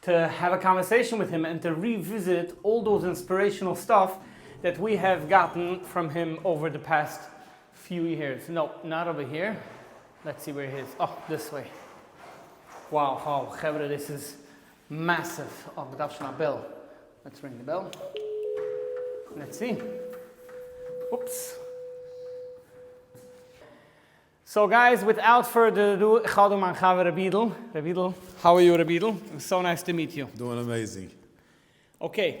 טו העוו א קאנווערסעישאן וויט הים ענד טו ריוויזיט אלל דאס אינספירעישאנעל סטאף דעט ווי העוו גאטן פראם הים אווער די פעסט פיו יערס, נאופ, נאט אווער היער, לעטס סי ווער הי איז, אה, דיס וועי, וואו האו חברה דאס איז מעסיוו, אה מ'דארף שוין א בעל, לעטס רינג די בעל, לעטס סי, אופס. סאו גייס וויטאוט פורדער אדו איך האב דא מיין חבר רבי אידל, רבי אידל, האו אר יו רבי אידל, סאו נייס טו מיט יו. דואינג אמעיזינג. אקעי,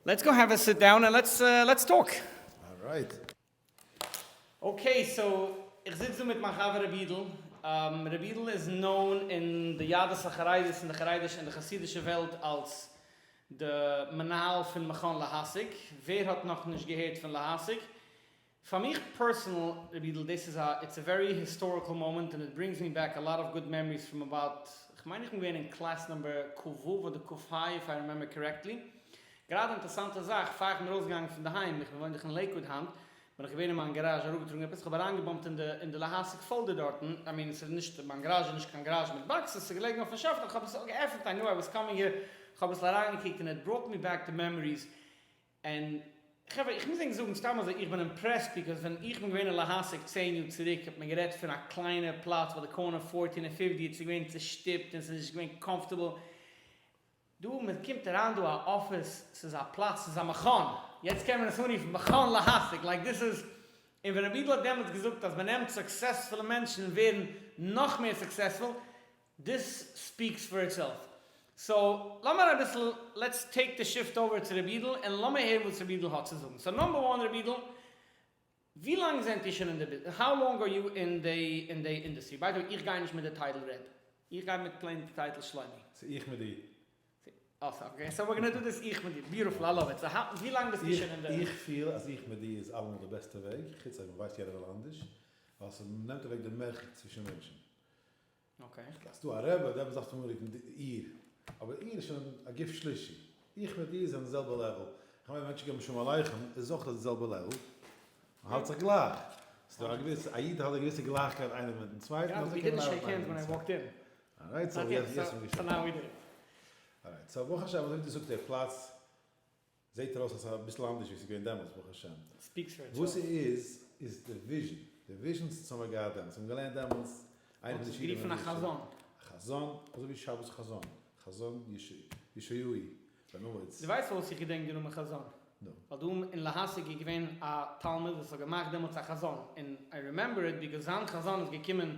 לעטס גאו העוו א סיט דאון און לעטס לעטס טאלק. אלרייט. אקעי, סאו איך זיץ דא מיט מיין חבר רבי אידל, רבי אידל איז נאון אין די יהדות החרדית און די חרדישע און די חסידישע וועלט אלס די מנהל פון מכון להשיג, ווער האט נאכנישט געהערט פון להשיג? פאר מיך פערסענעל רבי אידל דאס איז א איטס א ווערי היסטאריקעל מאמענט און איט ברינגס מי בעק א לאט אוו גוד מעמעריס פראם אבאוט כ'מיין איך בין געווען אין קלעס נומבער ק ו אדער ק ה איף איי רימעמבער קארעקטלי גראדע אינטערסאנטע זאך פאר איך בין ארויסגעגאנגען פון דערהיים איך בין וואוין דאך אין לעיקוואד היינט בין איך געווען אין מיין גאראזש אראפגעטראגן עפעס כ'האב אריינגעבאמט אין די אין די להשיג פאלדער דארטן איי מין ס'איז נישט מיין גאראזש איז נישט קיין גאראזש מיט באקסעס ס'איז געלעגן אויפן שעלף איך האב עס געעפנט איי ניו איי וואס קאמינג הער כ'האב אביסל אריינגעקוקט און איט בראט מי בעק די מעמעריס און חברה איך מוז ענק זאגן סתם אזוי איך בין אימפרעסט ביקאוס ווען איך בין געווען אין להשיג צען יאר צוריק האט מען גערעדט פון א קליינע פלאץ ביי די קארנער פֿורטין און פֿופֿציק עס איז געווען צושטופט און עס איז נישט געווען קאמפארטעבל דא מען קומט אריין דא א אפיס ס'איז א פלאץ ס'איז א מכון יעצט קען מען עס אנרופן מכון להשיג לייק דיס איז און ווען רבי'דל האט דעמאלטס געזאגט אז מען נעמט סוקסעספולע מענטשן און ווערן נאך מער סוקסעספול. דיס ספיקס פאר איטסעלף. סאו לאמיר אביסל לעטס טעיק די שיפט אווער צו רבי אידל און לאמיר הערן וואס רבי אידל האט צו זאגן. סאו נאמבער וואן רבי אידל ווי לאנג זענט איר שוין אין די ביז האו לאנג אר יו אין די אין די אינדעסטרי? ביי די וועי איך גיי נישט מיט די טייטל ר' איך גיי מיט פלעין די טייטל שלומי. ס'איז איך מיט דיר. אה סאו אקעי סאו ווער גאנא דא דיס איך מיט דיר ביוטיפול איי לאוו איט. סאו האו ווי לאנג ביסטו שוין אין די. איך פיל אז איך מיט דיר איז אלעמאל די בעסטע וועג חוץ אויב מ'ווייסט יעדער וועל אנדערש ווייל ס'נעמט אוועק די מרחק צווישן מענטשן. אקעי. אז ס'דא א רבי אדער עפעס דארפסטו אנרופן איר. אבער איר איז שוין א גוף שלישי. איך מיט איר זענען די זעלבע לעוועל. איך מיין ווען מענטשן געבן שלום עליכם איז אויך אויף די זעלבע לעוועל. מען האלט זיך גלייך. ס'איז דא א געוויסע, א איד האט א געוויסע גלייכקייט איינער מיטן צווייטן אזוי קען מען ארבעטן איינער מיטן צווייטן. ארייט סאו יעצט ווען מיר שעקן. ארייט סאו ברוך השם אזוי ווי דו זאגסט דער פלאץ. זעהט ארויס אז אביסל אנדערש ווי ס'איז געווען דעמאלטס ברוך השם. וואס ס'איז איז די וויזשען, די וויזשען ס'האט זיך נאר געהאט דעמאלטס, זיי האבן געלערנט דעמאלטס, איינער פון די שיעורים האט גערופן א חזון, א חזון, אזוי ווי שבת חזון, חזון ישעי' בן אמוץ. דו ווייסט פארוואס איך געדענק די נאמען חזון? נו. ווייל דא אין להשיג איז געווען א תלמיד וואס האט געמאכט דעמאלטס א חזון, און איי רימעמבער איט, ביז זיין חזון איז געקומען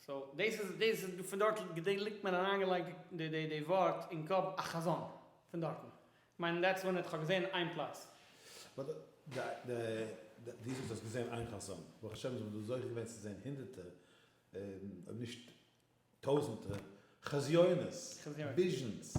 סאו דאס איז דאס איז פון דארט געדענק ליגט מיר אריינגעלייגט די די די ווארט אין קאפ א חזון פון דארטן כ'מיין דעטס וואן איט כ'האב געזען איין פלאץ. באט די די די ווי זאגסט האסט געזען איין חזון ברוך השם זעמער דא זוכה געווען צו זען הונדערטער אויב נישט טויזענטער חזיונות וויזשענס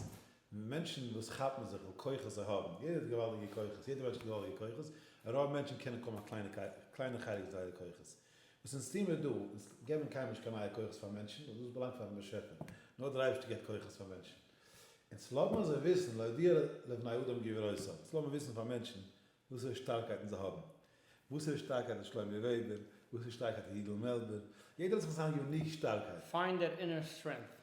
מענטשן וואס כאפן זיך על כוחות זיי האבן יעדער האט געוואלדיגע כוחות יעדער מענטש האט געוואלדיגע כוחות רוב מענטשן קענען קוים א קליינע קליינע חלק זייערע כוחות. וואס אונז טוהן מיר דא, אונז געבן קיינמאל נישט קיין נייע כוחות פאר מענטשן, ווייל דאס באלאנגט פארן באשעפער, נאר דער אייבערשטער געבט כוחות פאר מענטשן. אונז לאמיר זיי וויסן, להודיע לבני אדם גבורתם, אונז לאמיר וויסן פאר מענטשן וואסערע שטארקייטן זיי האבן. וואסערע שטארקייט האט שלומי וועבער, וואסערע שטארקייט האט יודל מעלבער, יעדער האט זיך זיין יוניק שטארקייט. פיינד דער אינער סטרענגט.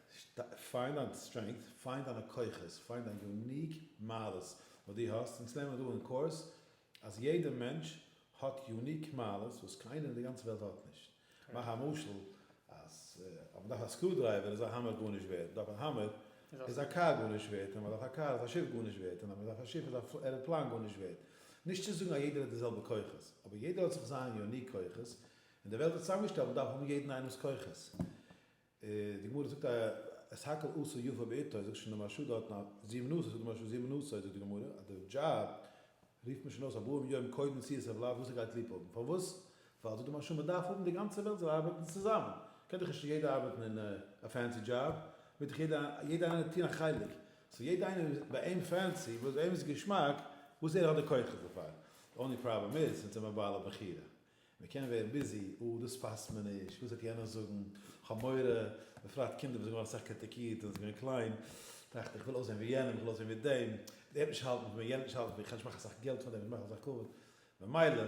פיינד דיין סטרענגט, פיינד דיינע כוחות, פיינד דיין יוניק מעלות וואס דו האסט, אונז לערנען דא אין קורס אז יעדע מענטש האט יוניק מעלות וואס קיינער אין די גאנצע וועלט האט נישט. מאך א משל אז אז מ'דארף א סקרו דרייווער איז א האמער גארנישט ווערט, מ'דארף א האמער איז א קאר גארנישט ווערט, אז מ'דארף א קאר איז א שיף גארנישט ווערט, און אז מ'דארף א שיף איז א עראפלאן גארנישט ווערט. נישט צו זאגן אז יעדער האט די זעלבע כוחות, אבער יעדער האט זיך זיין יוניק כוחות, און די וועלט איז צוזאמגעשטעלט, מ'דארף האבן יעדן איינעמ'ס כוחות. די גמרא זאגט א את הכל עשה יפה בעתו, זאגט שוין די משהו דארטן א זיע מנוסה, זאגט די משהו זיע מנוסה, זאגט די גמרא אז די דזשאב רופט מען שוין אויס ארבעים יום קודם צי עס ער בלייבט וואס ער גייט ליב האבן, פארוואס? ווייל זאגט די משהו מען דארף האבן די גאנצע וועלט זאל ארבעטן צוזאמען, קען דאך נישט יעדער ארבעטן אין א פענסי דזשאב, מעג דאך יעדער יעדער איינער טון א חלק, סאו יעדער איינער וואס ביי אים פענסי, וואס ביי אים איז געשמאק, וואס ער האט די כוחות דערפאר, די אנלי פראבלעם איז, זינט זיי האבן א בעל הבחירה, מ'קען ווערן ביזי, אה, דאס פאסט מיר נישט, וואס וועט יענער זאגן, כ'האב מורא, בפרט קינדער וואס זענען געווארן אסאך קריטיקירט ווען זיי געווען קליין, טראכט איך, כ'וויל אויסזען ווי יענעם, כ'וויל אויסזען ווי דעם, דער וועט נישט האלטן פון מיר, יענער וועט נישט האלטן פון מיר, כ'קען נישט מאכן אסאך געלט פאר דעם, נישט מאכן אסאך כבוד, ממילא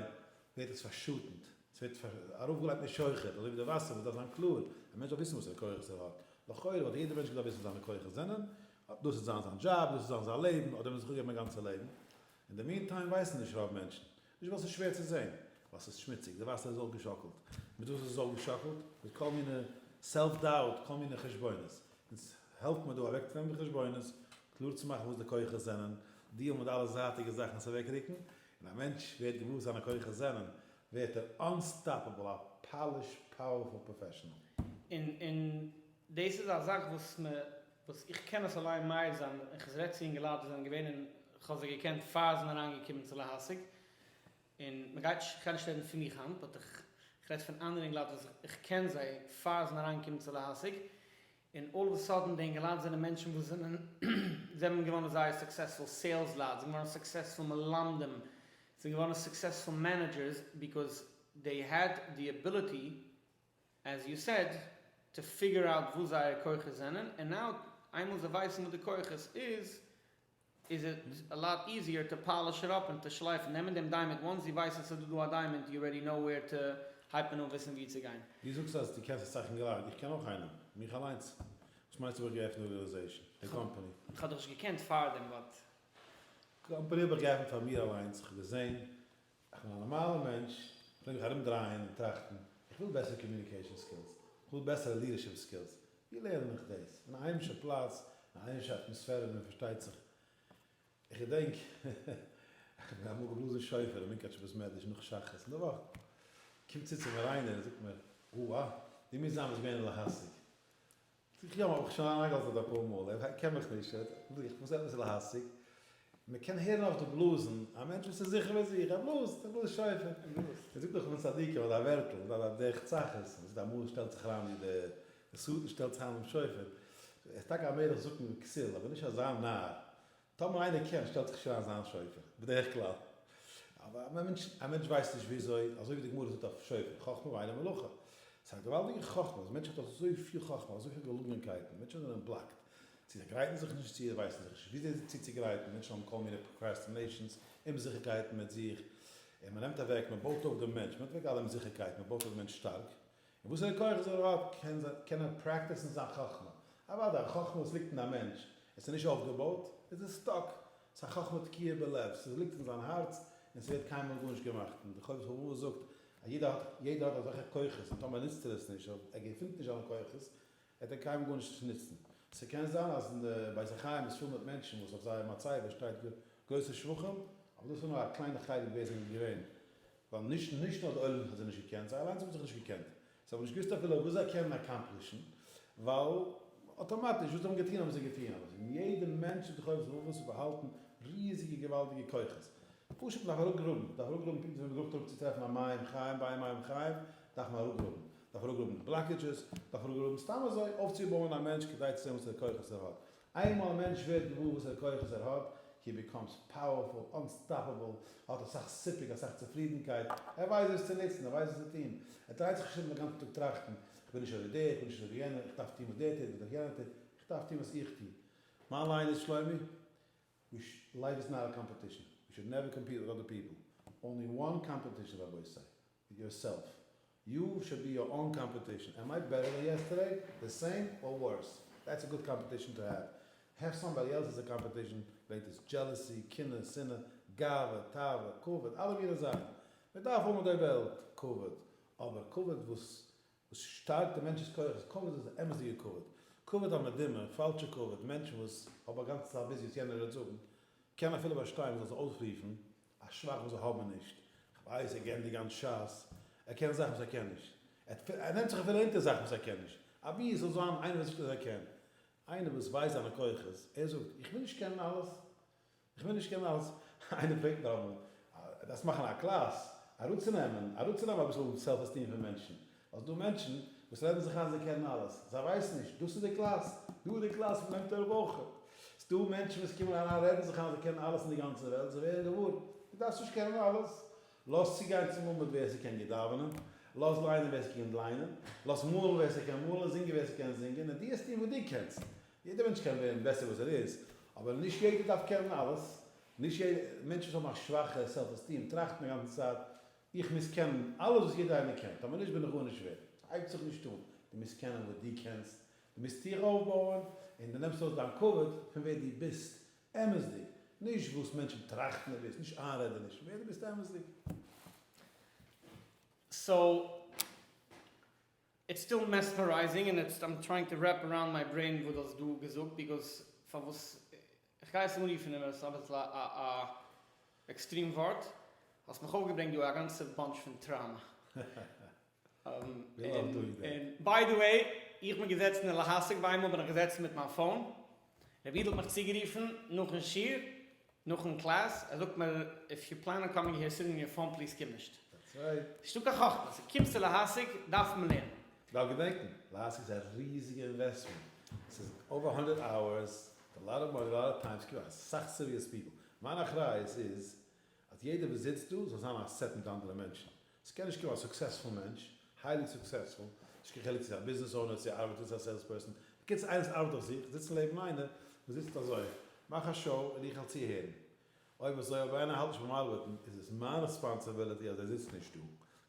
ווערט עס פארשאטנט, ס'ווערט ארויפגעלייגט מיט שוחד, אזוי ווי די וואסער וואס דארף זיין קלאר, א מענטש דארף וויסן וואסערע כוחות ער האט, לכאורה וואלט יעדער מענטש געדארפט וויסן וואס זיינע כוחות זענען, דאס וועט זיין זיין דזשאב, דאס וועט זיין זיין לעבן, האט ער מיר זיך אפגעגעבן מיט זיין גאנצע לעבן, אין די מין טיים ווייסן נישט רוב מענטשן, נישט ווייל ס'איז שווער צו זען, ווייל ס'איז שמוציג, די וואסער איז אויך געשאקלט, מיט וואס איז עס אויך געשאקלט? מיט כל מיני סעלף דאוט, כל מיני חשבונות, אונז העלפט מיר דא אוועקטרעטן די חשבונות, קלאר צו מאכן וואס די כוחות זענען, דיעלן מיט אלע זייטיגע זאכן עס אוועקרוקן, און א מענטש ווערט געוואר וואס זיינע כוחות זענען, ווערט ער אנסטאפעבל, א פאליש פאוערפול פראפעשענעל. און דאס איז א זאך וואס מען וואס איך קען עס אליין מעיד זיין און כ'רעד צו אינגעלייט וואס זענען געווען און כ'האב זיי געקענט פאר זיי זענען אריינגעקומען צו להשיג און מען גייט נישט כ'גיי נישט רעדן פון מיך היינט באט איך כ'רעד פון אנדערע אינגעלייט וואס איך קען זיי פאר זיי זענען אריינגעקומען צו להשיג און אלל אוו א סאדען די אינגעלייט זענען מענטשן וואס זענען זענען געווארן זייער סוקסעספול סעילס לייט זענען געווארן סוקסעספול מלמדים זענען געווארן סוקסעספול מענעדזשערס ביקאוז דעי העד די אביליטי עז יו סעד, טו פיגור אוט וואס זייער כוחות זענען, און נאו איינמאל זיי ווייסן וואס די כוחות איז, איז איט א לאט איזיער טו פאליש איט אפ און טו שלייפן, נעמען דעם דיימאנד, וואנס זי ווייסן ס'איז דא א דיימאנד יו רעדי נאו ווער טו, הייבט מען אן וויסן ווי צו גיין. דו זאגסט אז דו קענסט עס צייכן גלייך, איך קען אויך איינעם, מיך אליינס, וואס מיינסטו האב איך געעפנט ארגענעזעישן, די קאמפאני? איך האב דיך נישט געקענט פארדעם באט. קאמפאני האב איך געעפנט פאר מיר אליינס, איך האב געזען איך בין א נארמאלער מענטש, איך פלעג מיך ארום דרייען און טראכטן, איך וויל בעסערע קאמיוניקעישאן סקילס, איך וויל בעסערע לידערשיפ סקילס, ווי לערן איך דאס? אין א היימישע פלאץ, אין א היימישע אטמאספערע ווי מען פארשטייט זיך. איך געדענק איך האב אמאל געבלאזן שופר אין מונקאטשער בית מדרש נאך שחרית אין די וואך, קומט צו צו מיר איינער און זאגט מיר, אוה, דו מוזט זיין וואס געווען אין להשיג, זיך יא, האב איך שוין אריינגעלאזט דארט אפאר מאל, ער קען מיך נישט, ער האט ליכט, מ'איז עפעס להשיג, מען קען הערן אויף די בלאזן, א מענטש וואס איז זיכער ביי זיך, ער בלאזט, ער בלאזט שופר, מען זאגט דאך פון צדיקים אזא ווערטל, אזא א דרך צחות, מען זאגט אמאל שטעלט זיך אריין ווי דער שטן שטעלט זיך אריין דעם שופר, ער איז טאקע א מלך זקן וכסיל, אבער נישט אזא נאר, טאמער איינער קען שטעלט זיך שוין אזא שופר, בדרך כלל א מענטש א מענטש ווייסט נישט וויאזוי, אזוי ווי די גמרא זאגט אויף שופר, חכמה ואין לה מלאכה, ס'איז א געוואלדיגע חכמה, אז מענטשן האט אזויפיל חכמה, אזויפיל געלונגענקייטן, מענטשן זענען בלאקט, זיי גרייטן זיך נישט צו, ווייסן זיך נישט וויאזוי זיך צוצוגרייטן, מענטשן האבן כל מיני פראקרעסטינעישאנס, אומזיכערקייטן מיט זיך, און מ'נעמט אוועק, מ'בויט אויף דעם מענטש, מ'נעמט אוועק אלע אומזיכערקייטן, מ'בויט אויף דעם מענטש שטארק. און וואסערע כוחות ער האט קען ער פרעקטיסן זיין חכמה, אוודאי א חכמה וואס ליגט אין א מענטש, עס איז נישט אויפגעבויט, עס איז סטאק, עס איז א חכמה תקועה בלב, עס ליגט אין זיין הארץ און עס ווערט קיינמאל גארנישט געמאכט, און די חובת הלבבות זאגט אז יעדער האט אזעלכע כוחות און טאמער נוצט ער עס נישט אדער ער געפינט נישט זיינע כוחות, ער טאר קיינעם גארנישט נוצן. ס'קען זיין אז אין די בית החיים איז פיל מיט מענטשן וואס אויף זייער מצבה שטייט גרויסע שבחים, אבער דאס איז נאר א קליינע חלק ווער זענען געווען, ווייל נישט נישט נאר די עולם האט זיי נישט געקענט, זיי אליינס האבן זיך נישט געקענט, זיי האבן נישט געוואוסט אפילו וואס זיי קענען אקאמפלישן, ווייל אטאמאטיש וואס זיי האבן געטון האבן זיי געטון, אבער פון יעדע מענטש אין די חובות רבבות איז באהאלטן ריזיגע געוואלדיגע כוחות, פשוט מען דארף אראפגראבן, מען דארף אראפגראבן פונקט ווי מען גראבט אראפ צו טרעפן א מים חיים, ביים מים חיים דארף מען אראפגראבן, דארף ער אויך גראבן בלאקעדזשעס? דארף ער אויך גראבן סתם אזוי אויפצובויען א מענטש כדי צו זען וואסערע כוחות ער האט? איינמאל א מענטש ווערט געוואר וואסערע כוחות ער האט, הי ביקאמס פאוערפול, אנסטאפעבל, ער האט אסאך סיפוק, אסאך צופרידנקייט, ער ווייסט וואס צו נוצן, ער ווייסט וואס צו טון, ער דרייט זיך נישט ארום די גאנצע טאג טראכטן, איך בין נישט אזוי דער, איך בין נישט אזוי יענער, איך דארף טון וואס דער טוט, וואס דער יענער טוט, איך דארף טון וואס איך טו. מיין ליין איז, שלומי, לייף איז נאט א קאמפעטישן, יו שוד נעווער קאמפיט וויט אדער פיפל, אנלי וואן קאמפעטישן רבותי. יארסעלף יו שוד בי יור אן קאמפעטישן עמט מיי בעטער דען יעסטערדעי, די סעים אר ווארס, דעטס א גוד קאמפעטישן טו העוו, העוו סאמבאדי עלס עס א קאמפעטישן, וועגט דאס דזשעלעסי, קנאה, שנאה, גאווה, תאווה, כבוד, אלע מיני זאכן, מען דארף האבן אויף די וועלט כבוד, אבער כבוד וואס וואס שטארקט די מענטש'ס כח איז כבוד איז די אמת'דיגע כבוד, כבוד המדומה, פאלשע כבוד, מענטשן וואס האבן א גאנצע צייט ביז יעצט יענער רעדט זאגן, קען אפילו באשטיין מען זאל זיי אויסרופן א שוואך וואס זיי האבן נישט. כ'ווייס ער גענדיגט גאנץ שס, ער קען זאכן וואס ער קען נישט. ער נעמט זיך אפילו אונטער זאכן וואס ער קען נישט. אבי עס זאל זיין איינער וואס זאגט אז ער קען. איינער וואס ווייסט זיינע כוחות. ער זאגט, איך וויל נישט קענען אלעס. איך וויל נישט קענען אלעס. איינער פרעגט מיר אמאל, דארפסט מאכן א קלאס, אראפצונעמען, אראפצונעמען אביסל סעלף עסטיעם פון מענטשן. אזש דא מענטשן וואס רעדן זיך איין זיי קענען אלעס, זיי ווייסן נישט, דאס איז די קלאס, דא איז די קלאס פון בן תורה בחור, ס'דא מענטשן וואס קומען אריין רעדן זיך איין זיי קענען אלעס אין די גאנצע וועלט, זיי ווערן געוואר, דו דארפסט נישט קענען אלעס, לאז צוגיין צום אמבוד ווער ס'קען גוט דאווענען, לאז ליינען ווער ס'קען ליינען, לאז מאלן ווער ס'קען מאלן, זינגען ווער ס'קען זינגען, און דו וועסט טון וואס דו קענסט, יעדער מענטש קען ווערן בעסער וואס ער איז, אבער נישט יעדער דארף קענען אלעס, נישט יעדער, מענטשן וואס האבן א שוואכע סעלף עסטיעם טראכטן די גאנצע צייט איך מוז קענען אלעס וואס יעדער איינער קען, טאמער נישט בין איך גארנישט ווערד, ס'הייבט זיך נישט אן, דו מוזט קענען וואס דו קענסט, דו מוזט דיך אויפבויען, און דו נעמסט אויס דיין כבוד פון ווער דו ביסט אמת'דיג, נישט וואס מענטשן טראכטן דו ביסט, נישט איינרעדענישן, ווער דו ביסט אמת'דיג. סאו. איטס סטיל מעספערייזינג און איטס איים טרייאינג טו רעפ אראונד מיי ברעין וואס דו האסט דא געזאגט ביגאס פארוואס כ'גיי עס אנרופן איז עס אביסל א עקסטרים ווארט האסט מיך אויפגעברענגט דא א גאנצע באנטש פון טראמא און ביי די וועי איך בין געזעצן אין להשיג ביי איינמאל בין איך געזעצן מיט מיין פאון. רבי אידל האט מיך צוגערופן נאכן שיעור, נאכן קלאס, ער זאגט מיר, איף יו פלען אן קאמינג היער סינד מי א פאון פליז קום נישט. נישטא קיין חכמה, סא קומסטו להשיג דארף מען לערנען. דארף געדענקן, להשיג איז א ריזיגע אינוועסטמענט, סאיז אווער האנדערט אווערס, סאיז א לאט אוו מאני, א לאט אוו טיים, סקען אסאך סיריעס פיפל, מיין אחריות איז אז יעדער וואס זיצט דא זאל זיין א סעטן מיט אנדערע מענטשן, ס'קען נישט קומען א סוקסעספול מענטש, היילי סוקסעספול, נישט קיין חילוק צו ס'איז א ביזנעס אונער, צו ער ארבעט און צו א סעילס פערסאן, בקיצור איינער וואס ארבעט אויף זיך, זיצן לעבן איינער וואס זיצט אזוי, מאך א שאו און איך העל צוהערן. אויב אזוי אויב איינער האלט נישט ביים ארבעטן איז עס מיין רעספאנסעבילעטי אז ער זיצט נישט דא.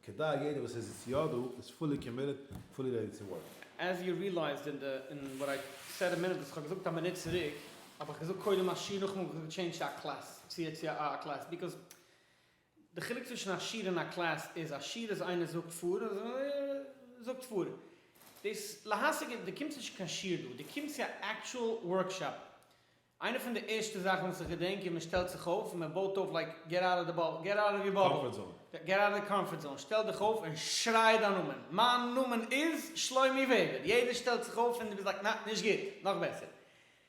כדי יעדער וואס ער זיצט יא דא איז פולי קאמיטעד, פולי רעדי טו ווארק. עז יו ריעלייזד אין די אין וואט איי סעד א מינוט וואס כ'האב געזאגט א מינוט צוריק, האב איך געזאגט קודם א שיעור נאכדעם האב איך געזאגט טשעינדזש צו א קלעס צו א א קלעס ביקאוז די חילוק צווישן א שיעור און א קלעס איז א שיעור איז איינער זאגט פאר און אזוי זאגט פאר דאס להשיג די קומסט נישט צו קיין שיעור דא די קומסט צו א עקטשועל ווארקשאפ איינע פון די ערשטע זאכן וואס איך געדענק איז מען שטעלט זיך אויף און מען בויט אויף לייק געט אוט אוו די געט אוט אוו יור באבל געט אוט אוו די קאמפארט זאון שטעל דיך אויף און שריי דיין נאמען מיין נאמען איז שלומי וועבער יעדער שטעלט זיך אויף און די ביסט לייק נע נישט גוט נאך בעסער.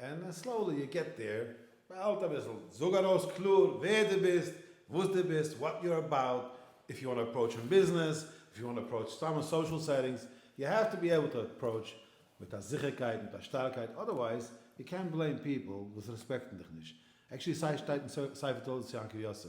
און סלאולי יו געט דעיר, באהאלט אביסל, זאג ארויס קלאר ווער דו ביסט, וואס דו ביסט, וואט יו אר אבאוט, איף יו וואנט טו אפראוטש אין ביזנעס, איף יו וואנט טו אפראוטש סתם אין סאושעל סעטינגס, יו העוו טו בי עיבל טו אפראוטש מיט א זיכערקייט, מיט א שטארקייט, אדערווייז יו קענט בלעים פיפל וואס רעספעקטן דיך נישט, עקשעלי סיי שטייט אין ספר תולדות יעקב יוסף,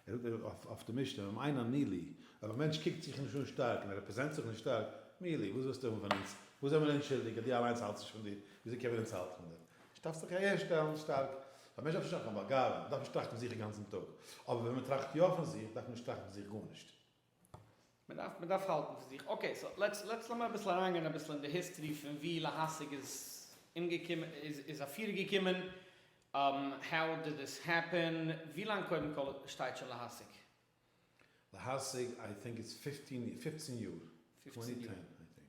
ער זאגט אויף אויף די משנה און אין א מילי, אויב א מענטש קוקט זיך נישט אן שטארק און ער רעפרעזענט זיך נישט שטארק, מילי, וואס ווילסטו האבן פון אונז? וואס זעמער אונז שולדיג אז דו אליינס האלטסט נישט פון דיר? וויאזוי קען מען אונז האלטן פון דיר? נישט דארפסט זיך אהער שטעלן שטארק. א מענטש דארף נישט האבן קיין באגאבונג, דארף נישט טראכטן פון זיך אינגאנצן טאג. אבער ווען מען טראכט יא פון זיך, דארף מען נישט טראכטן פון זיך גארנישט. מען דארף מען דארף האלטן פון זיך. אקעי סאו לעטס לעטס לאמיר אביסל אריינגיין אביסל אין די היסטערי פון ווי להשיג איז אומגעקומען איז אפירגעקומען, האו דיד דיס העפען, ווי לאנג קודם כל שטייט שוין להשיג? להשיג איי טינק איטס פיפטין יאר, טווענטי טען איי טינק.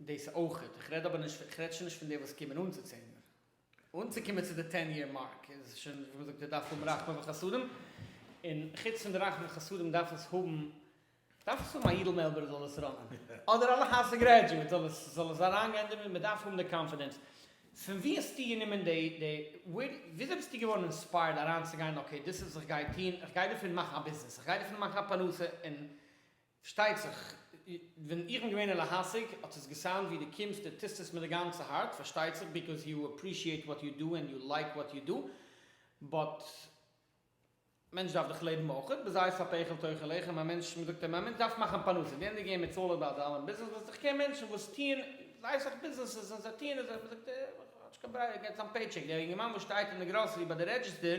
דאס אויכעט, איך רעד אבער נישט פון, איך רעד שוין נישט פון די וואס קומען אן צו צענער, אנצוקומען צו די טען יער מארק איז שוין ווי מען זאגט ער דארף האבן רחמים וחסדים, און חוץ פון די רחמים וחסדים דארף עס האבן, דארף עס האבן א אידל מעלבער זאל עס ראנען, אדער א להסק גרעדזשועט זאל עס זאל עס אריינגיין דערמיט, מען דארף האבן די קאנפידענס, פון ווי האסטו גענומען די די, וויאזוי ביסטו געווארן אינספייערד אריינצוגיין אקעי דאס איז וואס איך גיי טון, איך גיי דערפון מאכן א ביזנעס, איך גיי דערפון מאכן א פרנסה, און שטייצעך, ווען איך בין געווען אין להשיג האט עס געסאונד ווי דו קומסט דו טוסט עס מיט די גאנצע הארץ, פארשטייצעך ביקאוז יו אפרישיעט וואט יו דו ענד יו לייק וואט יו דו, באט מענטש דארף דאך לעבן אויך, בזית הפכל תאכל לחם, א מענטש מען זאגט אים א מענטש דארף מאכן פרנסה, די ענדיגע אימעיל צאלער ביי א דאלער ביזנעס ווייסט איך קען מענטשן וואס טוען זייער סאך ביזנעסעס און זיי טוען עס מען זאגט אים האט נישט קיין ברירה ער גייט צו זיין פעי טשעק, דער יונגערמאן וואס שטייט אין די גראסערי ביי די רעדזשיסטער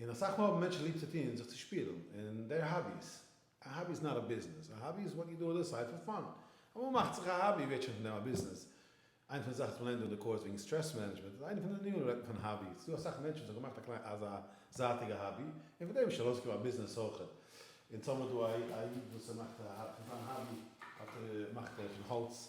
און אסאך מאל האבן מענטשן ליב צו טון זיך צו שפילן אין דער האביס, א האבי איז נאט א ביזנעס, א האבי איז וואט יו דו אן דע סייד פאר פאן, אמאל מאכט זיך א האבי ווערט שוין פון דעם א ביזנעס, איינע פון די זאכן וואס מ'לערנט אין די קורס וועגן סטרעס מענעדזשמענט איז איינע פון די ענינים רעדט מען פון האבי, ס'איז דא אסאך מענטשן וואס האבן געמאכט א קליין אזא זייטיגע האבי און פון דעם איז שוין ארויסגעקומען א ביזנעס אויך, און טאמער דא א איד וואס ער מאכט פון זיין האבי האט ער מאכט ער פון האלץ.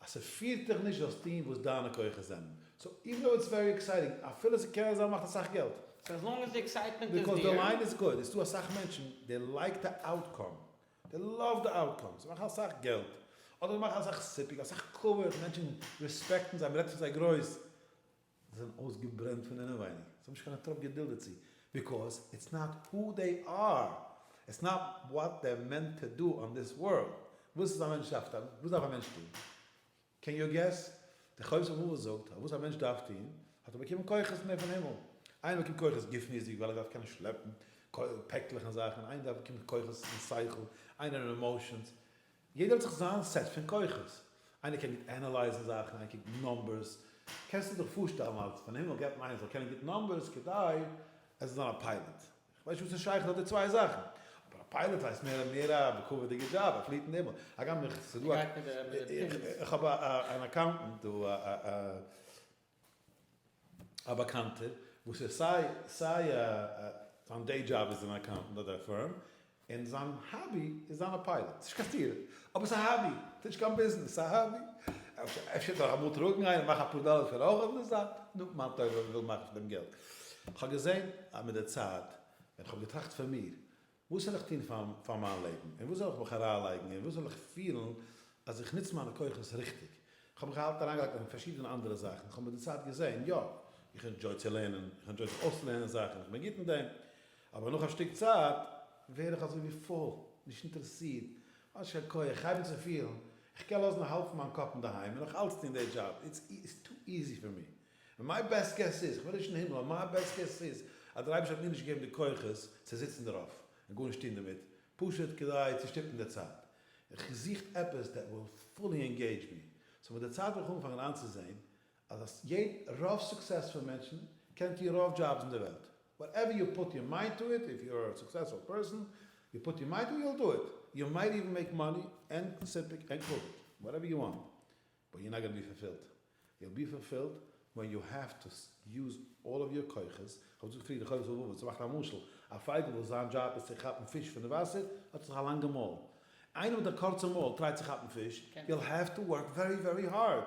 אז ס'פירט דיך נישט זאלסט טון וואס דיינע כוחות זענען, סאו איווען דאו איטס ווערי עקסייטינג, אפילו ס'קען זיין מ'מאכט אסאך געלט, סאו עס לאנג עס די עקסייטמענט איז דער, ביקאוז די ליין איז גוט, עס איז דא אסאך מענטשן דעי לייק די אוטקאם, דעי לאוו די אוטקאם, זיי מאכן אסאך געלט, אדער זיי מאכן אסאך סיפוק, אסאך כבוד, מענטשן רעספעקטן זיי, מ'רעדט פון זיי גרויס, זיי זענען אויסגעברענט פון אינעווייניג, זיי האבן נישט קיין א טראפ געדולד דערצו, ביקאוז איטס נאט הו דעי אר, איטס נאט וואט דער מענט טו דו אן דיס ווארלד, וואס איז א מענטש דארף טון? וואס דארף א מענטש טון? קען יו געס? דער חובת הלבבות זאגט אז וואס א מענטש דארף טון, האט ער באקומען כוחות מער פון הימל, איינער באקומט כוחות גופניות'דיג ווייל ער דארף קענען שלעפן פעקלעך און זאכן, איינער דארף באקומט כוחות פון שכל, איינער אין עמאושענס, יעדער האט זיך זיין סעט פון כוחות, איינער קען גוט ענעלייזן זאכן, איינער קען גוט נאמבערס, קענסטו דיך פארשטעלן אז פון הימל געבט מען איינער זאל קענען גוט נאמבערס כדי ער זאל זיין א פיילאט? איך ווייס נישט וואס איז שייך אט די צוויי זאכן, אבער א פיילאט הייסט מער מער א בכבוד'יגע דזשאב, ער פליעט אין הימל, הגם איך, ס'דא א, איך האב אן אקאונטענט דא, א. א באקאנטער וואס איז סיי סיי א זיין דעי דזשאב איז אן אקאונטענט אדער א פירם און זיין האבי איז זיין א פיילאט ס'נישט קיין סתירה אבער ס'איז א האבי ס'נישט קיין ביזנעס ס'איז א האבי אפשר דאך אמאל טראגן איינער מאכן אפאר דאלער פאר אויך אויף די זייט נו מה טוב וואס וויל מען מאכן פון דעם געלט כ'האב געזען אז מיט די צייט ווען כ'האב געטראכט פון מיר וואס זאל איך טון פאר מיין לעבן, אין וואס זאל איך מיך אריינלייגן, אין וואס זאל איך פילן אז איך נוץ מיינע כוחות ריכטיג. איך האב מיך אלץ אריינגעלייגט אין פארשידענע אנדערע זאכן, איך האב מיט די צייט געזען, יא, איך ענדזשוי צו לערנען, איך ענדזשוי זיך אויסלערנען זאכן, איך בין גוט אין דעם, אבער נאך א שטיק צייט ווער איך אזוי ווי פויל, נישט אינטערעסירט, האט נישט קיין כח, איך הייב אן צו פילן איך קען לאזן א האלב פון מיין קאפ אינדערהיים און נאך אלץ טון די דזשאב, איטס טו איזי פאר מיר. און מיי בעסט געס איז, כ'בין נישט אין הימל, אבער מיי בעסט געס איז אז דער אייבערשטער האט מיר נישט געגעבן די כוחות צו זיצן דערויף און גארנישט טון דערמיט, פשוט כדי צו שטופן די צייט. כ'זוכט עפעס דעט וויל פולי ענגעידזש מי. סאו מיט די צייט וועל איך אנפאנגען איינצוזעהן אז רוב סוקסעספול מענטשן קענען טון רוב דזשאבס אין די וועלט. וואטעווער יו פוט יור מיינד טו איט, איף יו אר א סוקסעספול פערסאן, יו פוט יור מיינד טו איט, יו וויל דו איט. יו מייט איווען מעיק מאני ענד סימפעק ענד קאוויד, וואטעווער יו וואנט. באט יו נאט גאנע בי פארפילד, יו בי פארפילד ווען יו העוו טו יוז אלל אוו יור כוחות, איך האב געזאגט פריער חובת הלבבות, צו מאכן א משל, א פייגל וואס זיין דזשאב איז צו כאפן פיש פון די וואסער, האט זיך א לאנגע מויל, איינער מיט א קורצע מויל טרייט צו כאפן פיש, יו העוו טו ווארק ווערי ווערי הארד,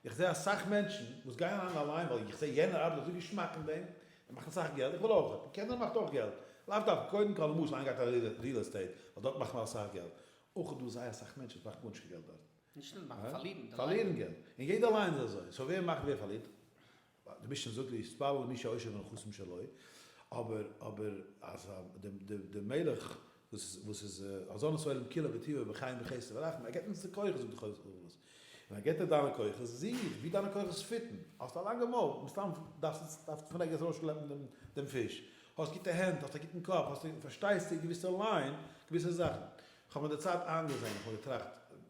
איך זעה אסאך מענטשן וואס גייען אריין אליין ווייל איך זעה יענער ארבעט אזוי געשמאק אין דעם, ער מאכט אסאך געלט, איך וויל אויך, און קענער מאכט אויך געלט, לאו דווקא, קודם כל למשל איינער גייט אריין ריעל עסטעיט, ווייל דארט מאכט מען אסאך געלט, אויך איז דא זייער אסאך מענטשן וואס מאכן גארנישט קיין געלט דארט, נישט נאר מאכן, פארלירן די לייב. פארלירן געלט. און יעדער ליינט עס אזוי. סאו ווער מאכט ווער פארלירט? די משנה זאגט להתפלל למי שעושר ונכסים שלו. אבער אבער אז די מלך וואס וואס איז אזאנע סולם כולו בטובו בחיים בחסד ורחמים, ער געבט אונז די כוחות זאגט די חובת הלבבות. און ער געבט דיר דיינע כוחות, זיך ווי דיינע כוחות פיטן. האסט א לאנגע מויל, מסתם דארפסטו דארפסטו פון ערגעץ ארויסשלעפן דעם פיש. האסט גוטע הענט, האסט א גוטן קאפ, האסט פארשטייסטו געוויסע ליין געוויסע זאכן. כ'האב מיט די צייט איינגעזען, כ'האב געטראכט,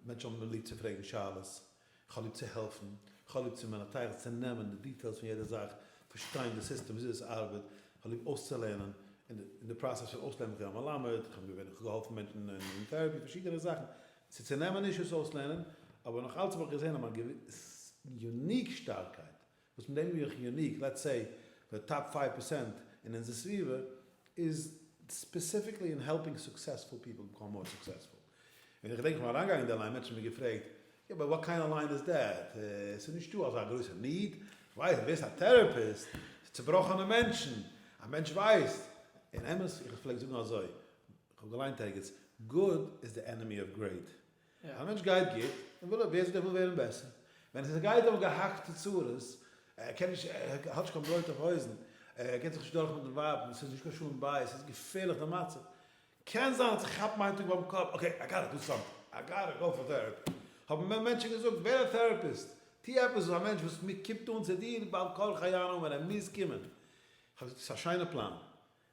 מענטשן האבן ליב צו פרעגן שאלות, כ'האב ליב צו העלפן, כ'האב ליב צו מען א טייל צו נעמען די דיטעילס פון יעדע זאך, פארשטיין די סיסטעם וויאזוי עס ארבעט, כ'האב ליב אויסצולערנען, און אין די פראסעס פון אויסלערנען כ'בין א מלמד, כ'בין געווען, כ'האב געהאלפן מענטשן אין טערעפי, פארשידענע זאכן, צו צונעמען נישט אויס אויסלערנען, אבער נאך אלץ האב איך געזען אז מיין יוניק שטארקייט וואס מיט דעם ווי איך יוניק לעטס סעי די טאפ פייוו פערסענט אין אונזער סביבה איז ספעסיפיקלי אין העלפינג סוקסעספול פיפל ביקאם מאר סוקסעספול און איך געדענק איך בין אריינגעגאנגען אין די ליין מענטשן האבן מיר געפרעגט יא באט וואט קיינד אוו ליין איז דעט ס'איז נישטא אזא גרויסע ניד ווייסט ווער איז א טערעפיסט פאר צובראכענע מענטשן א מענטש ווייסט און אמת איך פלעג זאגן אזוי איך האב געליינט ערגעץ גוד איז די ענעמי אוו גרעיט א מענטש גייט גוט, און וויל אבוויעסלי ער וויל ווערן בעסער, ווען עס איז גייט אים געהאקטע צרות, ער קען נישט, ער האט נישט קיין ברויט אויף אויזן, ער געט זיך נישט דורך מיט די ווייבן, עס איז נישט קיין שלום בית, עס איז געפערליך די מצב, קען זיין אז ער כאפט מיין טאג ביים קאפ, אקעי, איי גאטע דו סאמטינג, איי גאטע גאו פאר טעראפי, האבן מיר מענטשן געזאגט, ווער א טעראפיסט, טו עפעס וואס א מענטש וואס קומט אן צו דיר בעל כרחו יענו ווען ער מוז קומען, איך האב געזאגט, עס איז א שיינע פלאן,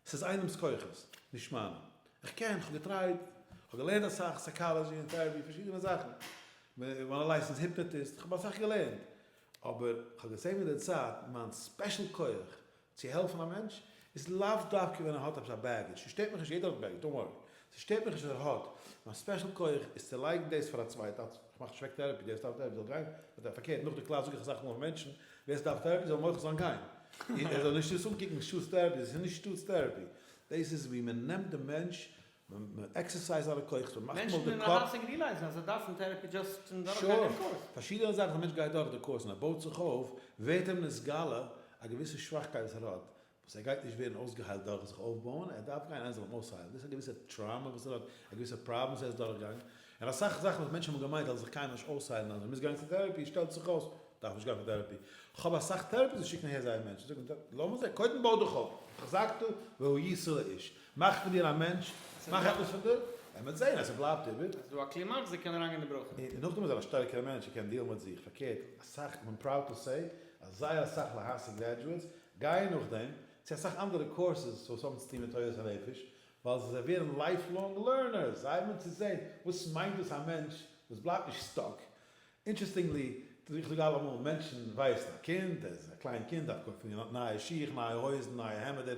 ס'איז איינעמס כוחות, נישט מיינע. איך קען, כ'האב געטרייט, כ'האב געלערנט אסאך, סייקאלעזשי און טעראפי, פארשידענע זאכן. מ'אנאלייזט אונז, היפנאטיסט, כ'האב אסאך געלערנט. אבער כ'האב געזען מיט די צייט, מיין ספעשל כוח צו העלפן א מענטש, איז לאו דווקא ווען ער האט עפעס א בעגעדזש. ס'שטערט מיך נישט, יעדער האט בעגעדזש, דאנט ווארי. ס'שטערט מיך נישט אז ער האט. מיין ספעשל כוח איז צו לייגן דאס פאר א צווייטן. כ'מאך טשעק טערעפי, דער וואס דארף טערעפי זאל גיין, אדער פארקערט, נאך די קלאס זאג איך אסאך מאל פאר מענטשן, ווער ס'דארף טערעפי זאל מוחל זיין גיין, און ער זאל נישט עס אנקוקן שטאטס טערעפי, דאס איז נישט שטאטס טערעפי, דאס איז ווי מען נעמט די מענטש, מען עקסערסייז זיינע כוחות, מען מאכט אים אויף די קאפ. מענטשן אינערהאלב זיך ריעלייזן אז זיי דארפן טערעפי דזשאסט פון דורך גיין דעם קורס. שור. פארשידענע זאכן, א מענטש גייט דורך די קורס און ער בויט זיך אויף, ווערט אים נתגלה א געוויסע שוואכקייט וואס ער האט, וואס ער גייט נישט ווערן אויסגעהיילט דורך זיך אויפבויען, ער דארף גיין איינער זאל אים אויסהיילן, דאס איז א געוויסע טראומע וואס ער האט, א געוויסע פראבלעם וואס ער איז דורכגעגאנגען, און אסאך זאכן וואס מענטשן האבן געמיינט אז זיך קאן מען נישט אויסהיילן אז מען מוז גיין צו טערעפי, שטעלט זיך אויס, מען דארף נישט גיין פאר טערעפי, כ'האב אסאך טערעפיסט וואס שיקן אהער זייערע מענטשן, זאג איך לאמיר זען, קודם בוי דיך אויף, החזקתו והוא ישא לאיש, מאך פון דיר א מענטש, מאך עפעס פון דיר, און מען וועט זען אז ס'בלייבט איבער. ס'איז דא א קלימאקס, דער קען אריינגיין אין די ברויך. און נאכדעם איז ער א שטערקערע מענטש, ער קען דיעלן מיט זיך, פארקערט, אסאך, איים פראוד טו סעי, אז זייער אסאך להעשה גרעדזשועטס גייען נאכדעם צו אסאך אנדערע קורסעס וואס האבן צוטון מיט תורת הנפש, ווייל זיי ווערן לייף לאנג לערנערס, זיי האבן צו זען וואס מיינט דאס א מענטש וואס בלייבט נישט סטאק. אינטרעסטינגלי, איך זאג אלעמאל, מענטשן ווייסן א קינד, ער איז א קליין קינד, דארף קויפן נייע שיך, נייע הויזן, נייע העמעדער,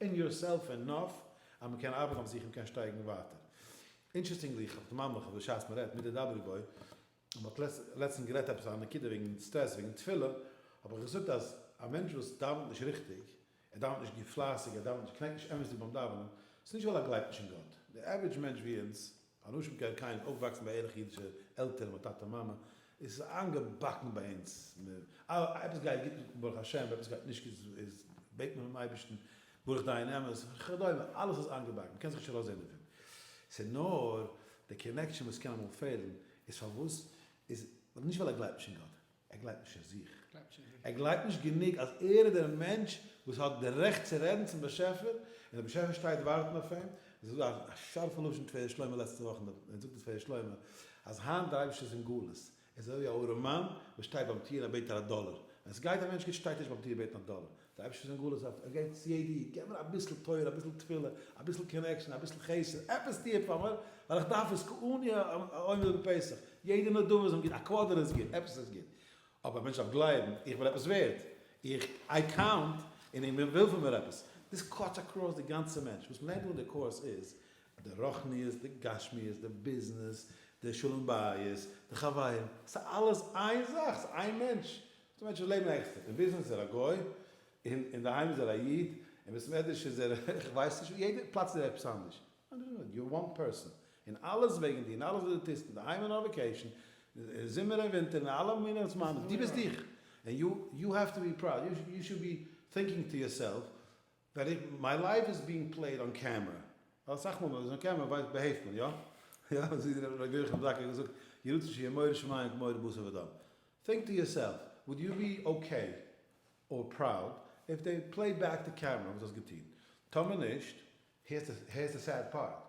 אין יור סעלף ענאף אז מען קען ארבעטן אויף זיך און קען שטייגן ווייטער. אינטשערסטינגלי איך האב די מאמר איך בשעת מען רעדט מיט די דברי בוי און מען האט לעצטענס גערעדט עפעס א נקודה וועגן סטרעס וועגן תפילה האב איך געזאגט אז א מענטש וואס דאווענט נישט ריכטיג ער דאווענט נישט גוט פלייסיג ער דאווענט נישט קנעקט נישט אמת'דיג ביים דאווענען ס'איז נישט ווייל ער גלייבט נישט אין גאט דער עווערעדזש מענטש ווי אונז אנשים כ א קייען אויפוואקסן ביי ערליכע אידישע עלטערן מיט טאטע מאמע, עס איז איינגעבאקן ביי אונז, אז עפעס גייט גוט ברוך השם, ווען עפעס גייט נישט גוט איז בעט מען פונעם אייבערשטן, ברוך דיין אמת, וכדומה, אלעס איז איינגעבאקן, מ'קען זיך נישט ארויסזען דערפון, ס'איז נאר די קאנעקשאן וואס קען אמאל פעלן, איז פארוואס איז, נישט ווייל ער גלייבט נישט אין גאט. ער גלייבט נישט אין זיך. ער גלייבט נישט גענוג אז ער איז דער מענטש וואס האט די רעכט צו רעדן צום באשעפער, און דער באשעפער שטייט ווארטן אויף אים. דאס איז א שארפע לשון תפארת שלמה לעצטע וואך אין די, זאגט די תפארת שלמה אז היינט דער אייבערשטער איז אין גלות, עס איז אזוי ווי א ארעמאן וואס שטייט ביים טיר און ער בעט פאר א דאלער, ווען עס גייט א מענטש גוט שטייט ער נישט ביים טיר בעטן א דאלער, דער אייבערשטער איז אין גלות אויף ער גייט צו יעדע איד, געב מיר אביסל תורה, אביסל תפילה, אביסל קאנעקשאן, אביסל חסד, עפעס טו פאר מיר, ווייל איך דארף עס כעני העומד בפסח, יעדע נדבה איז אים גוט, א קוואדער איז גוט, עפעס איז גוט, אבער א מענטש דארף גלייבן, איך בין עפעס ווערד, איך, איי קאונט, און איך בין וויל פון מיר עפעס, דאס קאטס אקראס די גאנצע מענטש, וואס מ'לערנט דא אין די קורס איז, די רוחניות, די גשמיות, די ביזנעס, די שלום בית, די חברים, ס'איז אלעס איין זאך, ס'איז איין מענטש, די מענטשן וואס לעבן עקסטער, אין ביזנעס איז ער א גוי, און אינדערהיים איז ער א איד, אין בית מדרש איז ער כ'ווייס נישט וואס, יעדע פלאץ איז ער עפעס אנדערש, יו אר וואן פערסאן, און אלעס וועגן דיר, און אלעס וואס דו טוסט, אינדערהיים און אויף וועקעישן, אין זומער און ווינטער, אין אלע מיני זמנים, דו ביסט דיך, און יו האב טו בי פראוד, יו שוד בי טינקינג טו יורסעלף, ווען מיי לייוו איז בינג פלעיד אן קעמרע, ווייל אסאך מאל ווען מ'איז אן קעמרע ווייסט באהעפט מען, יא? יא? אזוי האט ר' יוחנן זאקל געזאגט, יהי רצון שיהיה מורא שמים כמורא בשר ודם. טינק טו יורסעלף, וואלד יו בי אקעי אר פראוד איף דעי פלעי בעק די קעמרע וואס האסט געטון? טאמער נישט, היערס די סעד פארט,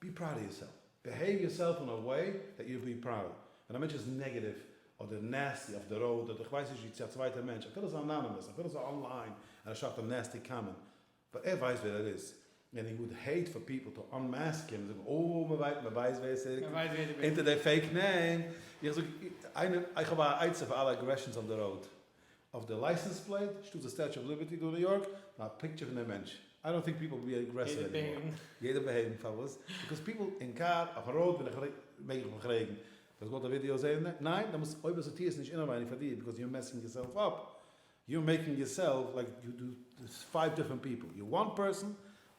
בי פראוד אוו יורסעלף. ביהעיוו יורסעלף און א וועי דעט יו בי פראוד. ווען א מענטש איז נעגעטיוו אדער נעסטי אויף די ראוד אדער איך ווייס נישט ווי צו א צווייטע מענטש אפילו ס'איז אנאנימעס אפילו ס'איז אנליין און ער שרייבט א נעסטי קאמענט באט ער ווייסט ווער ער איז און ער וואד העיט פאר פיפל טו אנמעסק אים און זאגן אוי מ'ווייט מ'ווייסט ווער עס איז אונטער די פעיק נעים איך זאג איינער איך האב א עצה פאר אלע אגרעשאנס אויף די ראוד אויף די לייסענס פלעיט שטאט די סטעטשו אוו ליבערטי דא ניו יארק פאר א פיקטשער פון דעם מענטש איי דאנט טינק פיפעל בי אגרעסיוו עני מאר יעדער בעהבן פארוואס ביקאוז פיפעל אין קאר אויפן ראוד ווען איך מעג איך מיך פרעגן וואלסט געוואלט א ווידיאו זעהן ניין ניין דעמאלטס אויב וועסטו טוה עס נישט אינעווייניג פאר דיר ביקאוז יור מעסינג יורסעלף אפ יור מעקינג יורסעלף לייק יו דו פייוו דיפרענט פיפעל יור וואן פערסאן.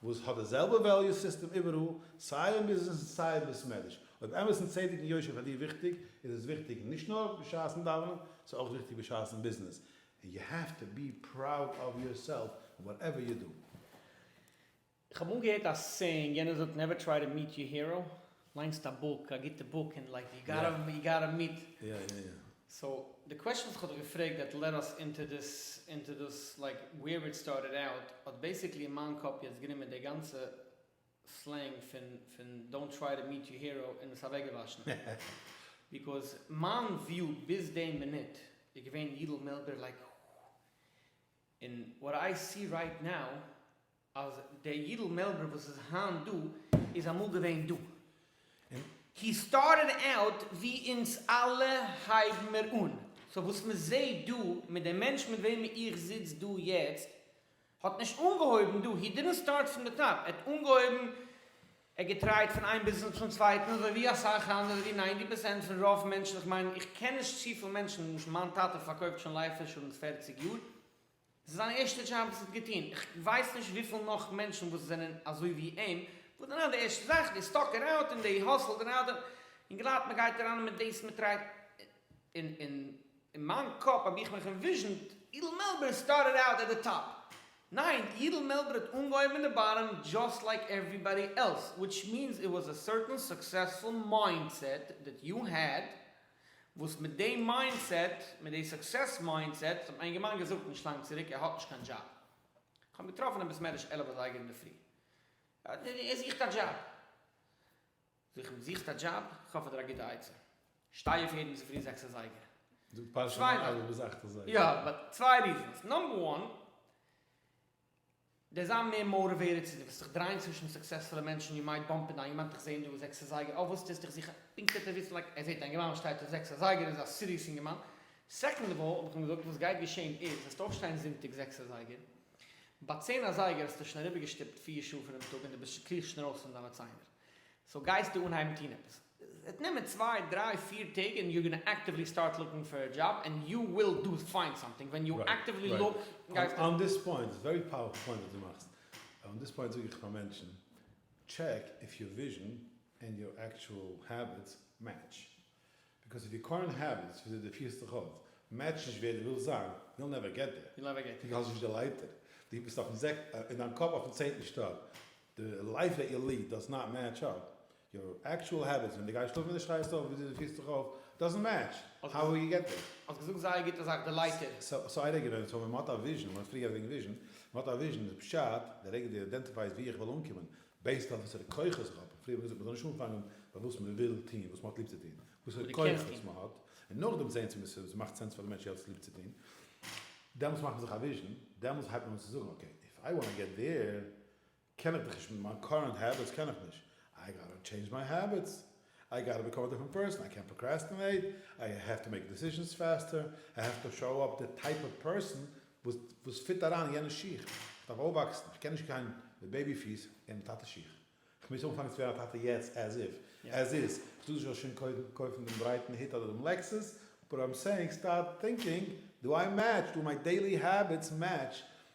וואס האט די זעלבע וועליו סיסטעם איבעראל, סיי אין ביזנעס און סיי אין בית מדרש. אויב אמת און צדק און יושר פאר דיר וויכטיג, איז עס וויכטיג נישט נאר בשעת'ן דאווענען, ס'איז אויך וויכטיג בשעת'ן ביזנעס, און יו העוו טו בי פראוד אוו יור סעלף און וואט עווער יו דא. איך האב אמאל געהערט א סעיאינג, יענער זאגט נעווער טריי טו מיעט יור הירא. ליינסט א בוק, א גוטע בוק, און לייק יו גאטע יו גאטע מיט איט. סאו די קוועשאן וואס כ'האב דיך געפרעגט דעט לעד אס אינטו דיס אינטו דאס לייק ווער איט סטארטעד אוט האט בעיסיקלי אין מיין קאפ יעצט גענומען די גאנצע סלענג פון פון דאונט טריי טו מיט יור הירא און עס אוועקגעוואשן ביקאז מיין וויו ביז די מינוט איז געווען יידל מילבער לייק און וואט איי סי רייט נאו אז דער יידל מעלבער וואס איז היינט דא איז אמאל געווען דא, און הי סטארטעד אוט ווי אונז אלע הייבן מיר אן, סאו וואס מען זעהט דא מיט דער מענטש מיט וועמען איך זיץ דא יעצט האט נישט אנגעהויבן דא, הי דידנט סטארט פון די טאפ, ער האט אנגעהויבן, ער האט געטרייט פון איין ביזנעס צום צווייטן אזוי ווי אסאך אנדערע, אזוי ווי ניינטי פערסענט פון רוב מענטשן, איך מיין איך קען נישט צופיל מענטשן, למשל מיין טאטע פארקויפט שוין לייף אינשורענס פערציג יאר, ס'איז זיין ערשטע דזשאב וואס ער האט געטון, איך ווייס נישט וויפיל נאך מענטשן וואס זענען אזוי ווי אים, וואס דערנאך די ערשטע זאך די סטאקער אוט און די האסלד און אדער, און גלייבט מיר גייט אריין מיט דאס מיט רייד, און אין מיין קאפ האב איך מיך אינוויזשענט אידל מעלבער סטארטעד אוט עט די טאפ, ניין אידל מעלבער האט אנגעהויבן אין די באטאם דזשאסט לייק עוועריבאדי עלס, וויטש מינס איט וואס א סערטען סוקסעספול מיינדסעט דעט יו העד, וואס מיט די מיינדסעט, מיט די סוקסעס מיינדסעט, וואס האט מיין אינגערמאן געזאגט נישט לאנג צוריק, ער האט נישט קיין דזשאב. איך האב אים געטראפן אין בית מדרש עלף אזייגער אינדערפרי. ער זוכט א דזשאב. זאג איך אים, דו זוכסט א דזשאב? איך האב פאר דיר א גוטע עצה. שטיי אויף יעדן צופרי זעקס אזייגער. זאגט פרשת מעריב ביז אכט אזייגער. יא, באט צוויי ריזענס. נאמבער וואן, דער זיין מער מעורב ווערער צו דיר וועסט דיך דרייען צווישן סוקסעספולע מענטשן יו מייט באמפ אינטו איין יעמאנט איך זע אין דא זעקס אזייגער אויף וואס טוסטו איך זוך א פונקט עטץ וויסן לייק ער זעט אינגערמאן וואס שטייט אויף זעקס אזייגער איז א סיריעס אינגערמאן סעקאנד אוו אלל האב איך אים געזאגט וואס גייט געשעהן איז וועסטו אויפשטיין זונטאג זעקס אזייגער ביי צען אזייגער האסטו שוין אריבערגעשטופט פיר שעה פונעם טאג און דו ביסט שכוח שוין ארויס פון דיינע ציינער סאו גייסטו אנהייבן טון עפעס עס וועט נעמען צוויי דריי פיר טעג און יו גאנא עקטיוולי סטארט לוקינג פאר א דזשאב און יו וויל דו פיינד סאמטינג ווען יו עקטיוולי לוק גייסטו. אן דיס פוינט, איז ווערי פאוערפול פוינט וואס דו מאכסט, אן דיס פוינט זאג איך פאר מענטשן, טשעק איף יור וויזשן ענד יור עקטשועל העביטס מעטש, ביקאוז איף יור קורענט העביטס, וויאזוי דו פירסט דיך אויף, מעטשן נישט ווער דו ווילסט זיין, יאל נעווער געט דער, דו גייסט נישט די לייטער, דו ביסט אין דיין קאפ אויפן צענטן שטאק, די לייף דעט יו ליעד דאז נאט מעטש אפ, יור עקטשועל העביטס, ווען דו גייסט שלאפן ווי דו שטייסט אויף, וויאזוי דו פירסט זיך אויף, דאזענט מעטש, האו וועל יו געט דעיר. האסט געזאגט זייער א גוטע זאך, די לייטער. סאו איידער געווען, סאו ווען מ'האט א וויזשען, מ'האט פריער גערעדט וועגן וויזשען, מ'האט א וויזשען איז פשט, די רגע דו איידענטיפייסט וואו איך וויל אנקומען, בעיסד אויף וואסערע כוחות איך האב, פריער האט מען געזאגט מ'זאל נישט אנפאנגען ביי וואס מ'וויל טון, וואס מ'האט ליב צו טון, וואסערע כוחות מ'האט, און נאכדעם זען צו ס'מאכט סענס פאר די מענטש יעצט ליב צו טון, דעמאלטס מאכט מען זיך א וויזשען, דעמאלטס הייבט מען אן צו זאגן אקעי, איף איי וואנט טו געט דעיר, קען איך דיך נישט מיט מיין קארענט העביטס קען איך נישט, איי גאטא טשעינדזש מיי העביטס, איי גאטא ביקאם א דיפרענט פערסאן, איי קענט פראקרעסטינעיט, איי העוו טו מעיק דעסיזשענס פעסטער, איי העוו טו שאו אפ די טייפ אוו פערסאן וואס פיט אריין אין יענע שיך, איך דארף אויפוואקסן, איך קען נישט גיין מיט בעיבי פיס און מיט טאטע שיך, איך מוז אנפאנגען צו ווערן א טאטע יעצט עז איף עז איז איך טאר זיך שוין קודם קויפן דעם ברייטן היט אדער דעם לעקסוס, באט איים סעיאינג סטארט טינקינג, דו איי מעטש, דו מיי דעילי העביטס מעטש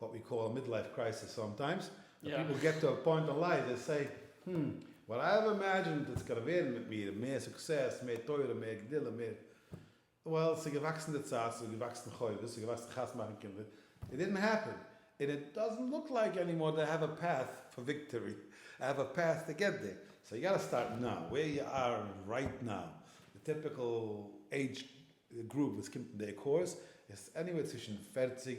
וואט ווי קאל א מידלייף קרייסיס סאמטיימס, ווען פיפל געט טו א פוינט אין לייף זיי סעי, הםמ, וואט איי האב אימעדזשינד איטס גאנע ווערן מיט מיר, מער סוקסעס, מער תורה, מער גדילה, מער, וועל, ס'איז געוואקסן די צייט, ס'איז געוואקסן חובות, ס'איז געוואקסן חתונה מאכן קינדער, איט דידנט העפען, און איט דאזנט לוק לייק ענימאר דעט האוו א פעט פאר וויקטארי, איי האוו א פעט טו געט דער, סאו יו גאטע סטארט נאו, ווער יו אר רייט נאו, די טיפיקעל עידזש גרופ וואס קומט אין דער קורס איז עניוועיר צווישן פֿערציק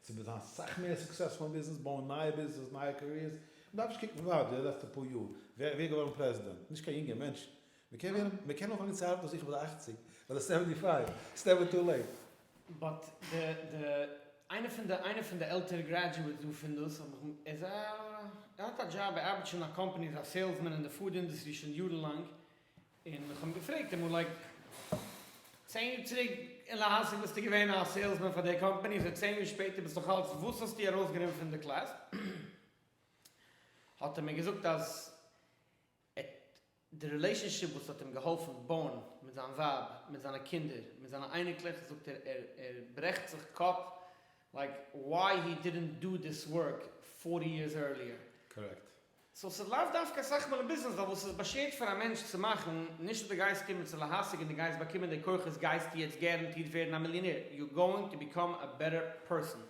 צו מ'זען אסאך מער סוקסעספול אין ביזנעס, בויען נייע ביזנעסעס, נייע קעריערס, מ'דארף נישט קוקן ווארט די לעצטע פאר יאר, ווער איז געווארן פרעזידענט, נישט קיין יונגע מענטשן, מ'קען ווערן, מ'קען אנפאנגען צו ארבעטן זיכער ביי די אַכציק, ביי די סעווענטי פייוו, ס'איז נעווער טו לעיט. באט די די איינער פון די איינער פון די עלטערע גרעדזשועטס דא פון דאס האב איך מ ער האט א דזשאב ער ארבעט שוין אין א קאמפאני איז א סעילסמען אין די פוד אינדעסטרי שוין יארן לאנג און איך האב אים געפרעגט אמאל לייק צען יאר צוריק און להסיק ביסטו געווען א סעילסמען פאר די קאמפאני אזוי צען יאר שפעטער ביסט נאך אלץ וואס האסטו ארויס גענומען פון די קלעס האט ער מיר געזאגט אז ער די רילעישאנשיפ וואס האט אים געהאלפן בויען מיט זיין ווייב מיט זיינע קינדער מיט זיינע אייניקלעך זאגט ער ער ער ברעכט זיך קאפ לייק וואי הי דידענט דא דיס ווארק פארטי יערס ערליער קארעקט סאו ס'איז לאו דווקא אסאך מאל אין ביזנעס ווייל וואס איז באשערט פאר א מענטש צו מאכן, נישט אז די גייסט קומען צו להשיג און די גייסט באקומען די כוחות גייסטו יעצט גערענטירט ווערן א מיליאנער, יו גאוינג טו ביקאם א בעטער פערסאן,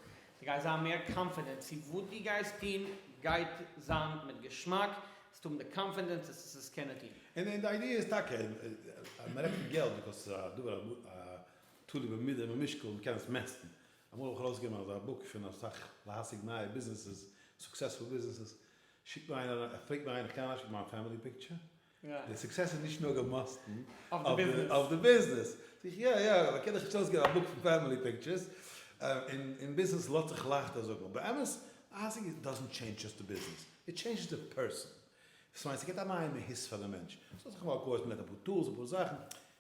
די גייסט זיין מער קאנפידענט צו וואס די גייסט טון גייט זיין מיט געשמאק, זאלסט האבן די קאנפידענס עס צו קענען טון. און די איידיע איז טאקע אז מען רעדט פון געלט ביקאוס ס'איז א דבר תלוי במידה ובמשקל און מ'קען עס מעסטן, אמאל האב איך ארויסגעגעבן אזא בוק פון אסאך להשיג נייע ביזנעסעס, סוקסעספול ביזנעסעס, שיקט מיר איינער אריין, פרעגט מיר איינער איך קען אריינשיקן מיין פעמילי פיקטשער? די סוקסעס איז נישט נאר געמאסטן אויף די ביזנעס. זאג איך יא יא, אבער קען איך נישט ארויסגעבן א בוק פון פעמילי פיקטשערס? אין ביזנעס לאזט זיך לייכט אזוי זאגן, אבער אמת, להשיג דאזענט טשעינדזש דזשאסט די ביזנעס, איט טשעינדזשעס די פערסאן. דאס מיינט ס'געט א נייע מהות פאר די מענטש. ס'האט זיך אמאל אפגעהויכט מיט אפאר טולס, אפאר זאכן,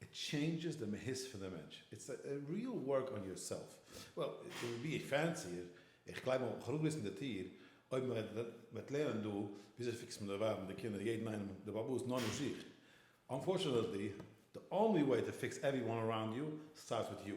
איט טשעינדזשעס די מהות פון די מענטש, איטס א ריעל ווארק אן יור סעלף, וועל איט וויל בי פענסיער, איך גלייב מ'וועט מיך אראפגריסן די טיר אויב מ'וועט לערנען דא וויאזוי פיקסט מען די ווייב און די קינדער יעדן איינעם די באבא איז נאר נישט זיך, אנפארטשענעטלי די אנלי וועי טו פיקס עוורי וואן אראונד יו סטארטס וויט יו,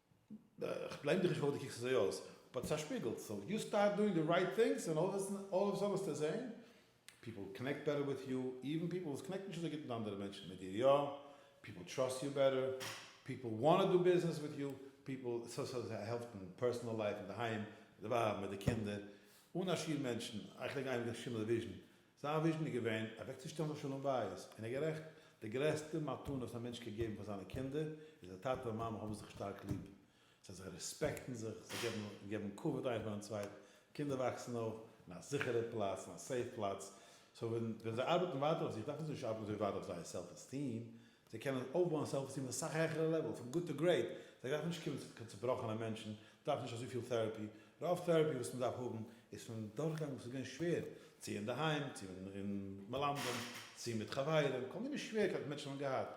איך בלעים דיך נישט פארוואס דו קוקסט אזוי אויס, באט ס'איז א שפיגל, סאו יו סטארט דואינג די רייט טינגס און אלל אוו א סאדען וועסטו זעהן פיפל קאנעקט בעטער וויט יו, איווען פיפל וואס קאנעקטן נישט אזוי גוט מיט אנדערע מענטשן, מיט דיר יא, פיפל טראסט יו בעטער, פיפל וואנט טו דו ביזנעס וויט יו, פיפל סאו סאו סאו העלפט אין פערסענעל לייף, אינדערהיים, מיט די ווייב, מיט די קינדער, אן א שיעור מענטשן, איך לייג איין די שינדלער וויזשן, זיין וויזשן איז געווען אוועקצושטעלן דאס שלום בית, און ער איז גערעכט, די גרעסטע מתנה וואס א מענטש קען געבן פאר זיינע קינדער איז אז טאטע און מאמע האבן זיך שטארק ליב, זיי זיי רעספעקטן זיך, זיי געבן געבן כבוד איינס פארן צווייטן, קינדער וואקסן אויף אין א זיכערע פלאץ, אין א סעיף פלאץ, סאו ווען ווען זיי ארבעטן ווייטער אויף זיך דארפן זיי נישט ארבעטן אזוי ווייט אויף זייער סעלף עסטיעם, זיי קענען אויפבויען סעלף עסטיעם אויף א סאך העכערע לעוועל, פון גוט טו גרעיט, זיי דארפן נישט קומען צו קיין צובראכענע מענטשן, דארפן נישט אזויפיל טעראפי, רוב טעראפי וואס מען דארף האבן איז פון דורכגאנג וואס איז געווען שווער, צו אינדערהיים, צו אין מלמדים, צו מיט חברים, כל מיני שווערקייטן מענטשן האבן געהאט,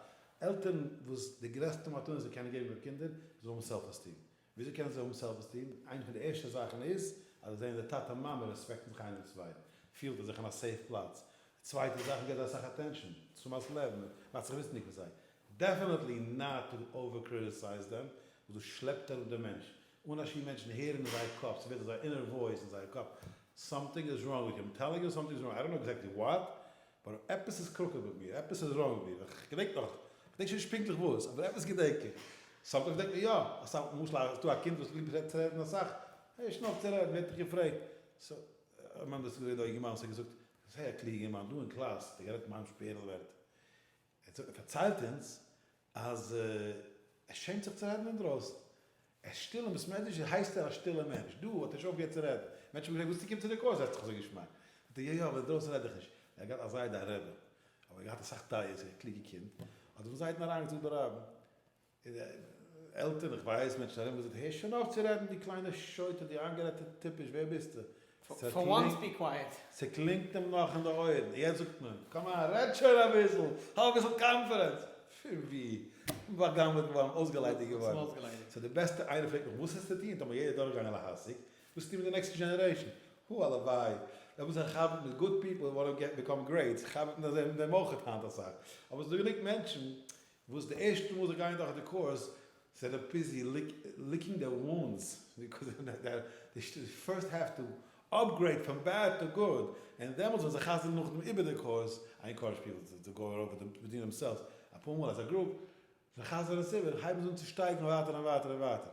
עלטערן וואס די גרעסטע מתנה זיי קענען געבן איר קינדער איז האבן סעלף עסטיעם, וויאזוי קענען זיי האבן סעלף עסטיעם? איינע פון די ערשטע זאכן איז אז זיי זעען אז די טאטע און מאמע רעספעקטן זיך איינער דעם צווייטן, פילט ער זיך אין א סעיף פלאץ, די צווייטע זאך מען געבט זיי אסאך אטענשאן, צומאס לעבן מען, מאכט זיך וויסנדיג פון זיי. דעפענעטלי נאט טו אווער קריטיסייז דעם, וואס דאס שלעפט אראפ דעם מענטש. אנשים מענטשן הערן אין זייער קאפ, ס'ווערט אזא אינער וואויס אין זייער קאפ, סאמטינג איז ראנג וויט אים, טעללינג אים סאמטינג איז ראנג, איי דאנט נאו עקזעקטלי וואט, באט עפעס איז קרוקעד מיט מיר, עפעס איז ראנג מיט מיר, איך געדענק נאך, כ'געדענק שוין נישט פונקטליך וואס, אבער עפעס געדענק איך, סאמטינג וואס געדענקט מיר יא, אסאך, למשל אז ס'דא א קינד וואס ליבט צו רעדן אסאך, הער נישט אויף צו רעדן, ווער האט דיך געפרעגט, סאו, מיין דאס איז געווען דא א יונגערמאן וואס האט געזאגט, זייער קלוגער יונגערמאן, דא אין קלאס האט ער גערעדט מיין שפערל ווערטער, ער האט פארציילט אונז, אז ער שעמט זיך צו רעדן אינדרויסן. ער איז שטיל און בסמעדרישז הייסט ער א שטילער מענטש. דא האט ער נישט אויפגעהערט צו רעדן. מענטשן האבן געפרעגט וואס צוקומט צו דיר קאויס זעסט דיך אזוי געשמאק? זאגט ער יא יא אבער אינדרויסן רעד איך נישט. ער האט געהאט א זיידע א רעבע. אבער ער האט געהאט אסאך טעיות און א קלוגע קינד. האט פון זייטן אריינגעזאגט די רבי. עלטערן איך ווייס מענטשן ארום געזאגט הער שוין אויף צו רעדן דו קליינער שוטה דו איינגערעדטע טיפש ווער ביסטו? ס'קלינגט, ס'קלינגט אים נאך אין די אויערן, יעצט זאגט מען, קאמאן רעד שוין אביסל, האב אביסל קאנפידענס, פון ווי? פון באגנב'עט געווארן, אויסגעליידיגט געווארן, סאו די בעסטע, איינער פרעגט מיך וואס איז צו טון, טאמער יעדער דורכגאנגען להשיג, וואס צו טון מיט די נעקסטע דזשענערעישאן, הו הלוואי, די וואס חבר'ט מיט גוד פיפל וואלען ביקאם גרעיט, חבר'ט מיט זיי אויך היינט אסאך, אבער ס'דא גענוג מענטשן, וואס די ערשטע מאל זיי גייען דורך די קורס זיי זענען ביזי ליקינג דער וואונדס, די פירסט העוו טו אפגרעיד פון בעד טו גוד, און דעמאלטס וועלן זיי חזר'ן נאכדעם איבער די קורס, איי אינקארעדזש פיפל טו גאו אראווער וויט דעם ווידין דעמסעלווס אפאר מאל עז א גרופ, זיי חזר'ן עס איבער און הייבן עס אן צו שטייגערן ווייטער און ווייטער און ווייטער,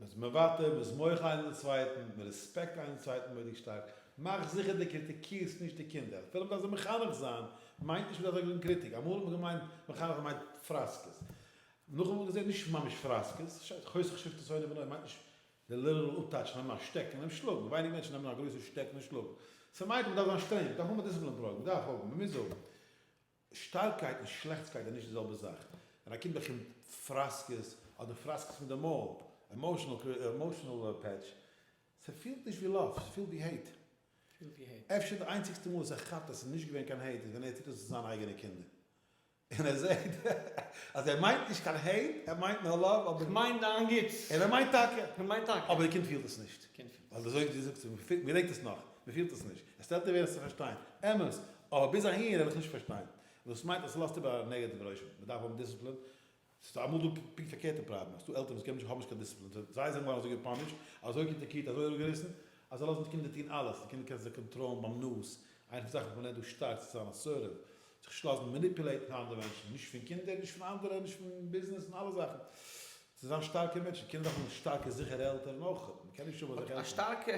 מ'איז מוותר, מ'איז מוחל איינער דעם צווייטן, מ'רעספעקט איינער דעם צווייטן מורא'דיג שטארק. מאך זיכער דו קריטיקירסט נישט די קינדער. אפילו מ'דארף זיי מחנך זיין, מיינט נישט מ'דארף זיי געבן קריטיק. אמאל האט מען געמיינט מחנך מיינט פראסקעס. נאך אמאל געזען נישט ממש פראסקעס. חושך שפתי שונא בנו מיינט נישט די ליטערעל אפטייטש נעמען א שטעקן און אים שלאגן. ווייניג מענטשן נעמען א גרויסע שטעקן און שלאגן. ס'מיינט אז מ'דארף זיין שטרענג. מ'דארף האבן א דראג. מ'דארף האבן. מ'מוז האבן. שטארקייט און שלעכטסקייט איז נישט די זעלבע זאך. ווען א קינד באקומט פראסקעס אדער פראסקעס פון די מויל, עמאושענעל פעטש, ס'פילט נישט ווי לאוו, ס'פילט ווי העיט. אפשר די איינציגסטע מאל וואס ער כאפט אז ס'איז נישט געווען קיין העיט איז ווען ער טוט עס צו זיינע אייגענע קינדער און ער זעט אז ער מיינט נישט קיין העיט, ער מיינט נאר לאוו אבער. כ'מיין דיין גוטס. און ער מיינט טאקע. כ'מיין טאקע. אבער די קינד פילט עס נישט. ווייל די זויגער זאגט זיך מען געדענקט עס נאך, מען פילט עס נישט, עס טערט אווער עס צו פארשטיין, אמת, אבער ביז אהין וועל איך נישט פארשטיין, דאס מיינט אז עס לאזט איבער א נעגעטיווע רושם, מען דארף האבן דיסציפלין, ס'איז דא אמאל דא פונקט פארקערטע פראבלעם, אז ס'איז דא עלטערן וואס קענען נישט האבן נישט קיין דיסציפלין, זיי זענען געווארן אזוי געפאנישט, אזוי קריטיקירט, אזוי אראפגעריסן, אז זיי לאזן די קינדער טון אלעס, די קינדער קענסטו זיי קאנטראלן ביים נאז, איינע פון די זאכן וואס מען לערנט דא שטארק צו זיין אסרטיוו, זיך נישט לאזן מעניפולעיטן פון אנדערע מענטשן, נישט פון קינדער, נישט פון אנדערע, נישט פון ביזנעס און אלע זאכן. צו זיין שטארקע מענטשן קען מען דאך האבן שטארקע זיכערע עלטערן אויך, מען קען נישט האבן אזעלכע עלטערן. א שטארקע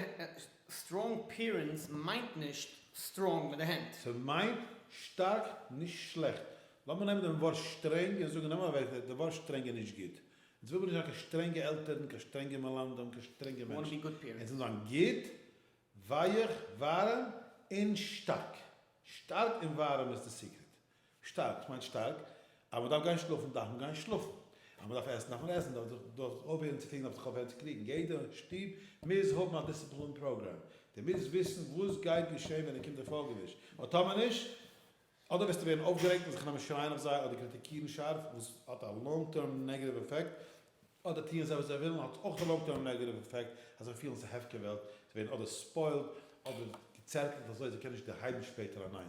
סטראנג פעירענטס מיינט נישט סטראנג מיט די הענט. ס'מיינט שטארק נישט שלעכט. לאמיר נעמען דעם ווארט שטרענג און זאגן נעם אוועק די ווארט שטרענג איז נישט גוט. אונז וויל מיר נישט זיין קיין שטרענגע עלטערן, קיין שטרענגע מלמדים, קיין שטרענגע מענטשן. אונז וויל זיין גוט, ווייעך, ווארעם און שטארק. שטארק און ווארעם איז די סיקרעט. שטארק, ס'מיינט שטארק. אז מ'דארף גיין שלאפן דארף מען גיין שלאפן. אז מ'דארף עסן דארף מען עסן. דארף זיך דארף אויפהערן צו קריגן דארף זיך אויפהערן צו קריגן. יעדע שטוב מוז האבן א דיסציפלין פראגראם. דו מוזט וויסן וואס גייט געשען ווען דער קינד דער פאלגער נישט. און טאמער נישט, אדער וועסטו ווערן אויפגערעגט און זיך נעמען שרייען אויף זיי אדער קריטיקירן שארף וואס האט א לאנג טערם נעגעטיוו עפעקט. אדער טוען זיי וואס זיי ווילן האט אויך א לאנג טערם נעגעטיוו עפעקט אז זיי פילן ס'איז א הפקר וועלט. זיי ווערן אדער ספוילד אדער געצערטלט אזוי זיי קענען נישט דערהייבן שפעטער אליין.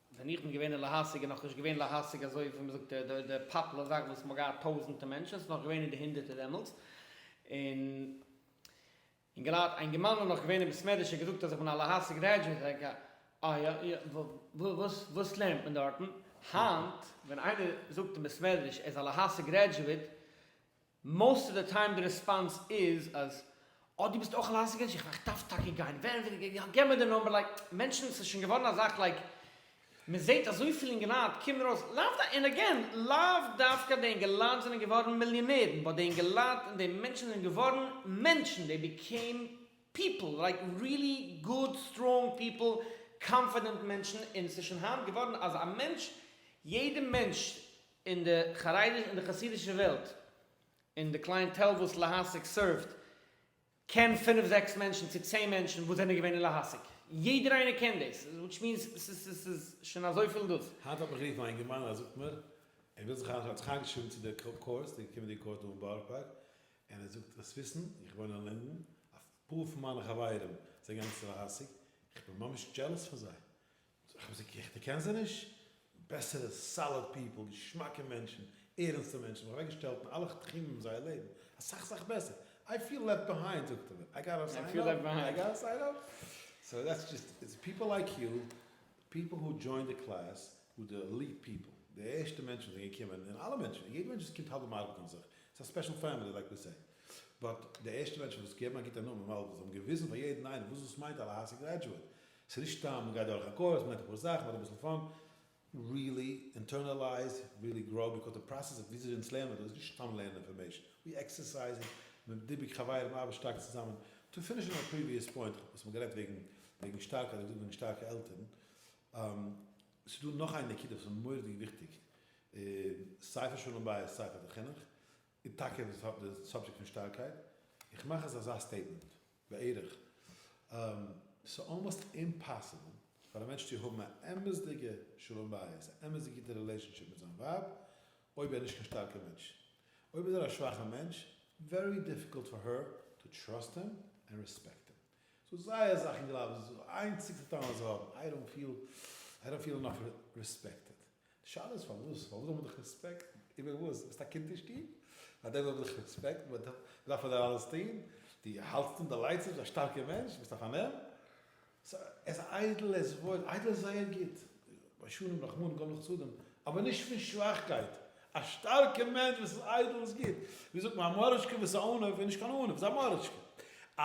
ווען איך בין געווען אין להשיג איז נאך נישט געווען להשיג אזוי ווי מען זאגט די פאפלער זאך וואס מען האט געהאט טויזענטע מענטשן עס איז נאך געווען אין די הונדערטער דעמאלטס און און געלייט אינגערמאן איז נאך געווען אין בית מדרש און געזאגט אז איך בין א להשיג גרעדזשעט איך געדענק אה יא יא וואס וואס לערנט מען דארטן היינט ווען איינער זאגט אין בית מדרש ער איז א להשיג גרעדזשעט מאסט אוו די טיים די רעספאנס איז אז אה דו ביסט אויך א לייסענס עידזשענט, איך דארף טאקע גיין ווער ווער ווער, יא געב מיר די נאמבער, לייק מענטשן ס'איז שוין געווארן א זאך לייק מען זעהט אזויפיל אינגעלייט קומען ארויס לאו דו און עגעין לאו דווקא די אינגעלייט זענען געווארן מיליאנערן באט די אינגעלייט און די מענטשן זענען געווארן מענטשן דעי ביקעים פיפל לייק רילי גוד סטראנג פיפל קאנפידענט מענטשן און ס'איז שוין היינט געווארן אז א מענטש יעדע מענטש אין די חרדיש אין די חסידישע וועלט אין די קלייענטעל וואס להשיג סערווט קען פינף זעקס מענטשן צו צען מענטשן וואס זענען געווען אין להשיג יעדער איינער קען דאס וויטש מיענס סאיז שוין אזויפיל דאס. היינט האט מיך גערופן א אינגערמאן ער זאגט מיר ער וויל זיך איינשרייבן האט זיך איינגעשריבן צו די קורס די קומענדיגע קורס דא אין בארא פארק און ער זאגט דארפסט וויסן איך וואוין אין לינדען אפאר פון מיינע חברים זענען געגאנגען צו להשיג איך בין ממש דזשעלעס פון זיי איך האב זיי געקריגט איך קען זיי נישט, בעסערע סאליד פיפל, געשמאקע מענטשן, ערענסטע מענטשן, זיך אוועק געשטעלט אין אלע תחומים אין זייער לעבן, אסאך אסאך בעסער, איי פיל לעפט ביהיינד זאגט ער מיר, איי גאטא סיין אפ, איי גאטא סיין אפ, סאו דעטס דזשאסט איט, איטס פיפל לייק יו, פיפל הו דזשוינד די קלעס, הו די עליט פיפל, די ערשטע מענטשן וואס זענען געקומען, און אלע מענטשן, יעדע מענטש וואס קומט האלט די מארק און זיך, איטס א ספעשל פעמילי לייק ווי סעי, באט די ערשטע מענטשן וואס געבן א גוטע נאמען, ווייל זיי האבן געוויזן פאר יעדן איינעם וואס דאס מיינט א להשיג גרעדזשועט, ס'איז נישט סתם מ'גייט דורך א קורס, מ'לערנט אפאר זאכן, מ'האט אביסל פאן, ריעלי אינטערנעלייז, ריעלי גראו, ביקאוז די פראסעס אויף וויאזוי אונז לערנען דא איז נישט סתם לערנען אינפארמעישן, ווי עקסערסייז איט, מ'איז דבוק חברים, מ'ארבעט שטארק צוזאמען, טו פיניש אן א פריוויעס פוינט, כ'האב עפעס אמאל גערעדט וועגן וועגן שטארקע אדער געזאגט וועגן שטארקע עלטערן, ס'איז דא נאך איין נקודה וואס איז מורא'דיג וויכטיג, סיי פאר שלום בית סיי פאר די חינוך, איז טאקע די סאבדזשעקט פון שטארקייט, איך מאך אז אזא סטעיטמענט. בערך. ס'איז אלמאסט אימפאסיבל פאר א מענטש צו האבן א אמת'דיגע שלום בית, א אמת'דיגע גוטע רילעישאנשיפ מיט זיין ווייב, אויב ער איז נישט קיין שטארקער מענטש. אויב איז ער א שוואכער מענטש, ווערי דיפיקולט פאר הער טו טראסט הים ענד רעספעקט הים. ס'איז זייער אסאך אין גלייב, ס'איז די איינציגסטע טעם וואס זיי האבן, איי דאנט פיל, איי דאנט פיל אינאף רעספעקטעד. די שאלה איז פארוואס? פארוואס זאל מען דיך רעספעקטן? איבער וואס? ביסט א קינד אין שטוב? פאר דעם זאל מען דיך רעספעקטן? מען דארף פאר דיר אלעס טון? דו האלטסט און דו ליידסט נישט? ביסט א שטארקער מענטש? ביסט א פארנעם? עס איידל, עס וואויל, איידל איז זייער גוט, ביישנים רחמנים גאב לחסדים, אבער נישט פון שוואכקייט, א שטארקער מענטש וואס איז איידל איז גוט, ווי זאגט מען א מאריטשקע וואס איז א ענב איז נישט קיין ענב, איז א מאריטשקע, א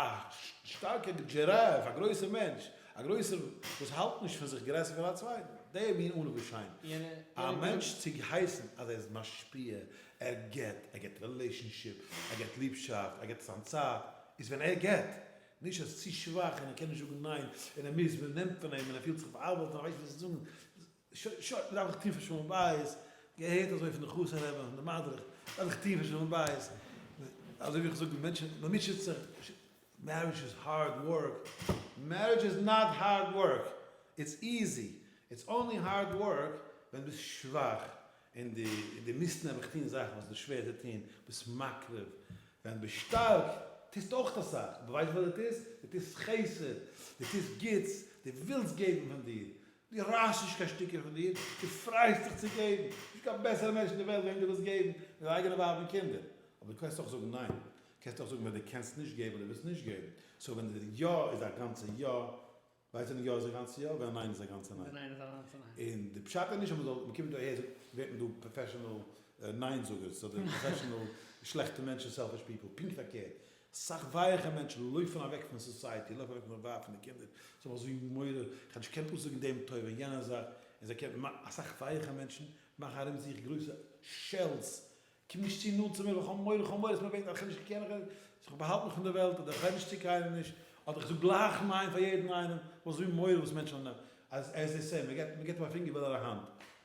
שטארקער דזשיראף, א גרויסער מענטש. א גרויסער וואס האלט נישט פון זיך גרעסער פון א צווייטן, די מין אן וואס שיין א מענטש צו הייסן אז ער איז משפיע, ער גיבט, ער גיבט רילעישאנשיפ, ער גיבט ליבשאפט, ער גיבט זיין צייט, איז ווען ער גיבט, נישט אז ער איז צו שוואך און ער קען נישט זאגן ניין און ער מוז, מען נעמט פון אים און ער פילט זיך בא'עוול'ט און ער ווייסט נישט וואס צו זאגן, שוין שוין, מ'דארף זיך טון פאר שלום בית, געהערט אזוי פון די חתן רבי און די מדריך, מ'דארף זיך טון פאר שלום בית, אזוי ווי איך זאג די מענטשן, מ'מוטשעט זיך, מערידזש איז הארד ווארק, מערידזש איז נאט הארד ווארק, איטס איזי, איטס אנלי הארד ווארק ווען ביסט שוואך, און די און די מוזט נעבעך טון זאכן וואס איז שווער צו טון, ביסט מקריב, ווען ביסט שטארק טוסט אויך אסאך, ווייסט וואס די טוסט? די טוסט חסד, די טוסט גוטס, די ווילסט געבן פון דיר, דו רייסט נישט קיין שטיקער פון דיר, דו פרייסט זיך צו געבן, נישטא קיין בעסערע מענטש אין די וועלט וועם דו ווילסט געבן ווי דיין אייגענע ווייב און קינדער, אבער דו קענסט אויך זאגן ניין, קענסט אויך זאגן ווען דו קענסט נישט געבן אדער ווילסט נישט געבן, סאו ווען די יא איז א גאנצע יא, ווייסט ווען יא איז א גאנצע יא, ווען א ניין איז א גאנצע ניין. און די פשט איז נישט אז מען זאל, מען קומט דא אהער זאגט ווערט מען דא פראפעשענעל ניין זאגערס אדער פראפעשענעל שלעכטע מענטשן סעלפיש פיפל, פונקט פארקערט, סאך ווייעכע מענטשן לויפן אוועק פון סאסייעטי, לויפן אוועק פון זיין ווייב פון די קינדער, זיי זאלן זיך זאגן גמרא, כאטש קען פאסיג זאגן דעם טוב און יענע זאך, און זיי קען, אסאך ווייעכע מענטשן מאכן ארום זיך גרויסע שעלס, קום נישט צו נאנט צו מיר ווייל כ'האב מורא, כ'האב מורא אז מ'וועט א חידוש, כ'קען נישט, זאל איך באהאלטן מיך פון די וועלט, אדער כ'רעד נישט צו קיינעם נישט, אדער כ'זאג גלייך ניין פאר יעדן איינעם, וואס איז מיר מורא וואס מענטשן וועלן, עז עז זיי סעי, מ'געט מ'געט אים א פינגער וויל ער א האנט,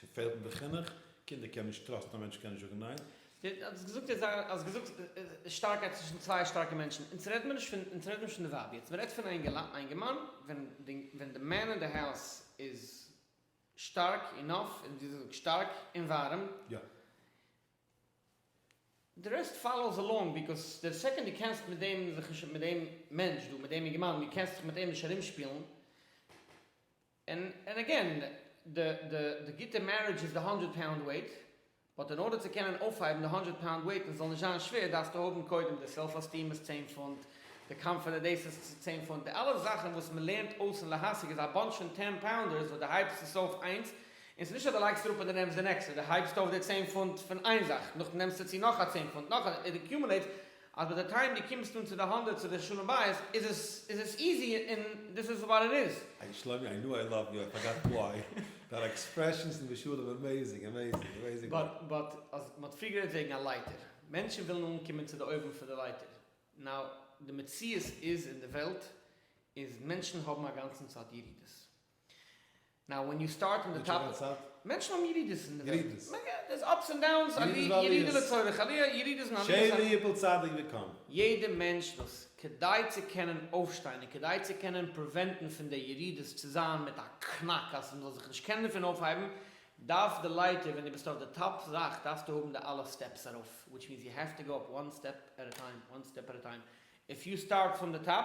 ס'פעלט אין די חינוך, קינדער קענען נישט טראסטן א מענטש קען נישט זאגן ניין. די האסט געזאגט יעצט זיין האסט געזאגט שטארקייט צווישן צוויי שטארקע מענטשן, אונז רעדט מיר נישט פון אונז רעדט נישט פון די ווייב יעצט מ'רעדט פון אינגערמאן ווען די ווען די מען אין די האוז איז שטארק אינאף און ווי זאגט שטארק און ווארעם יא. די רעסט פאלאוס אלאנג ביקאוס די סעקאנד די קענסט מיט דעם זיך נישט מיט דעם מענטש דא מיט דעם אינגערמאן די קענסט זיך מיט אים נישט ארומשפילן, און אגעין, די גוטע מערידזש איז די האנדרעד פאונד וועיט, באט אין ארדער צו קענען אויפהייבן די האנדרעד פאונד וועיט און עס זאל נישט זיין שווער דארפסטו האבן קודם די סעלף עסטיעם איז צען פונט, די קאנפידענט דעיס איז צען פונט, די אלע זאכן וואס מען לערנט אויס אין להשיג איז א באנטש פון טען פאונדערס וואס די הייבסט עס אויף איינס, און ס'איז נישט אז די לייגסט אראפ און די נעמסט די נעקסטע, די הייבסט אויף די צען פונט פון איין זאך, נאכדעם נעמסטו צו נאך א צען פונט, נאך א, איט אקיומעלעיטס. אז ביי די טיים דו קומסט אן צו די האנדע צו די שלום בית איז עס איז עס איזי און דאס איז וואט איט איז. איי שלומי איי נו איי לאוו יו איי פארגאט וואי, דיינע עקספרעשאנס אין די שלום אמעזינג אמעזינג אמעזינג ווארק. באט אז מען האט פריער גערעדט וועגן א לייטער, מענטשן ווילן אנקומען צו די אויבן פון די לייטער, נאו די מציאות איז אין די וועלט איז מענטשן האבן אגאנצן צייט ירידות, נאו ווען יו סטארט אין די טאפ אוו די מענטשן האבן ירידות אין די וועלט דעיס אפס אנד דאונס ירידה לצורך עליה ירידות און עליות שערי יפול צדיק וקם יעדע מענטש וואס כדי צו קענען אויפשטיין און כדי צו קענען פריווענטן פון די ירידות צו זיין מיט א קנאק אז מ'זאל זיך נישט קענען דערפון אויפהייבן דארף די לייטער ווען די ביסט אויף די טאפ זאך דארפסטו האבן די אלע סטעפס ארויף וויטש מיענס יו העוו טו גאו אפ וואן סטעפ עט ע טיים וואן סטעפ עט ע טיים איף יו סטארט פרום די טאפ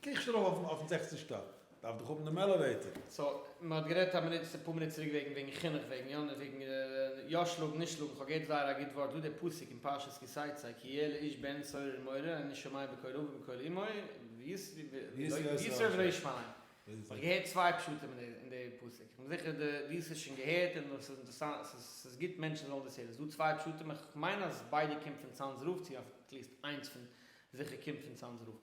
קריך שוין ארויף אויפן אויפן זעכצן שטאק, דארף דאך האבן דעם עלעוועיטער. סאו מען האט גערעדט א מינוט אפאר מינוט צוריק וועגן וועגן חינוך וועגן יא וועגן יא שלאגן נישט שלאגן כ'האב געהערט זייער א גוט ווארט דא דער פסוק אין פרשת כי תצא כי יהיה לאיש בן סורר ומורה אני שומע בקול אביו ובקול אמו ויסרב ולא ישמע להם כ'האב געהערט צוויי פשטים אין די פסוק כ'בין זיכער דו האסט עס שוין געהערט און עס איז אינטערעסאנט ס'איז גוט מענטשן זאלן דאס הערן ס'איז דא צוויי פשטים כ'מיין אז ביידע קומט פון צאנז רב צו אטליסט איינס פון זיכער קומט פון צאנז רב.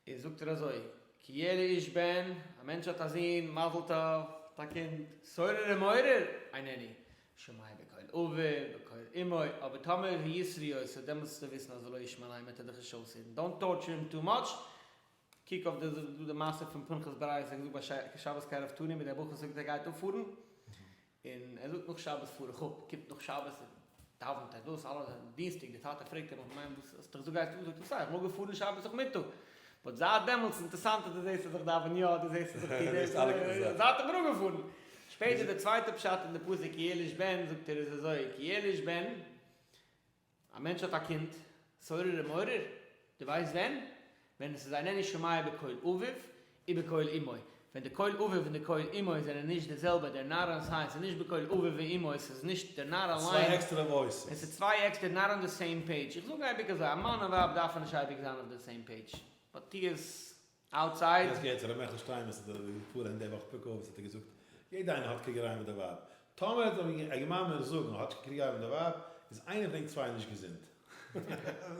און זאגט ער אזוי, כי יהיה לאיש בן, א מענטש האט א זון, מזל טוב, האט א קינד, סורר ומעורר, ענני, שמעיה בקול אביו, בקול אמו, אבער טאמער הוא ישרא י, סאו דעמאלטס זאלסטו וויסן אז לא ישמע להם וועט ער דיך נישט אויסהערן, דאנט טארטשער הים טו מאטש, קוק אויף די זאגסט דא די מעשה פון פנחס ברייער, ס'איז געזאגט ביי שבת קרב תנים ווי דער בחור זאגט ער גייט אפפארן, און ער זאגט נאך שבת פאר איך אפ, קומט נאך שבת און דאווענט ער דאס אלעס, און דינסטאג די טאטע פרעגט אים איך מיין וואס האסטו דיך אזוי געהייסט אן, זאגט ער סא איך מאגען פארן שבת נאכמיטאג, באט זייט דעמאלטס אינטערסאנט אז דו זעסט אז איך דאווען יא, דו זעסט אז איך טו דאס, זייט איך בין אפגעפארן. שפעטער די צווייטע פשט אין די פסוק כי יליש בן זאגט ער איז אזוי כי יליש בן א מענטש האט א קינד, סורר ומעורר, דו ווייסט ווען? ווען עס איז אינני שומע בקול אביו ובקול אמו, ווען די קול אביו און די קול אמו זענען נישט די זעלבע, דער נער אז ס ה עס איז נישט בקול אביו ואמו, עס איז נישט דער נער אליין, עס איז צוויי עקסטער, נאט אן די סעים פעידזש, איך זאג אייביג אזוי, א מאן און ווייב דארפן נישט אייביג זיין אויף די סעים פעידזש, באט טו עס אוטסייד. יעצט געהערט צו ר' מעכל שטיין וואס האט פארהען די וואך פרק אבות האט ער געזאגט יעדע איינער האט קריגעריי מיט די ווייב טאמער ער האט ער געמיינט מער זאגן האטש קריגעריי מיט די ווייב איז איינע פון ענק צוויי נישט געזונט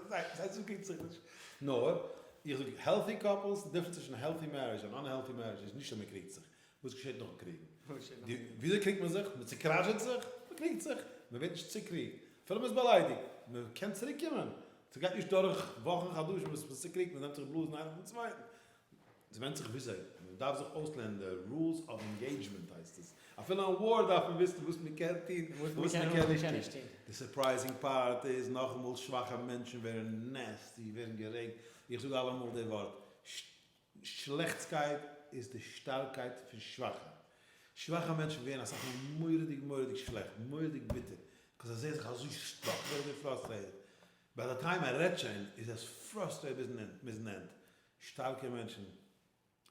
זיי זיי זאגן קריגט זיך נישט נאר איך זאג העלטי קאפלס די דיפרענס צווישן העלטי מערידזש און אנהעלטי מערידזש איז נישט אז מען קריגט זיך וואס געשעט נאכן קריג? וויאזוי קריגט מען זיך? מען צוקראשעט זיך? מען קריגט זיך? מען ווערט נישט צוקריגט? אפילו מען איז באליידיגט? מען קען צוריקקומען? ס'גייט נישט דורך וואכן חדשים ביז מ'איז צוקריגט, מען נעמט זיך בלאזן איינער פון צווייטן. ס'ווענדט זיך וויאזוי. מען דארף זיך אויסלערנען די רולס אוו ענגעידזשמענט הייסט עס. אפילו אין וואר דארף מען וויסן וואס מען קען טון און וואס מען קען נישט טון. די סורפרייזינג פארט איז נאכאמאל, שוואכע מענטשן ווערן נעסטי, ווערן גערעגט, איך זאג אלעמאל די ווארט, שלעכטסקייט איז די שטארקייט פון שוואכע. שוואכע מענטשן ווערן אסאך מאל מורא'דיג מורא'דיג שלעכט, מורא'דיג ביטער, ביז זיי זעהן זיך אזוי סטאק דארט און פראסטרעיטעד. ביי די טיים ער רעדט שוין איז עס פראסטרעיט ביזן ענד. שטארקע מענטשן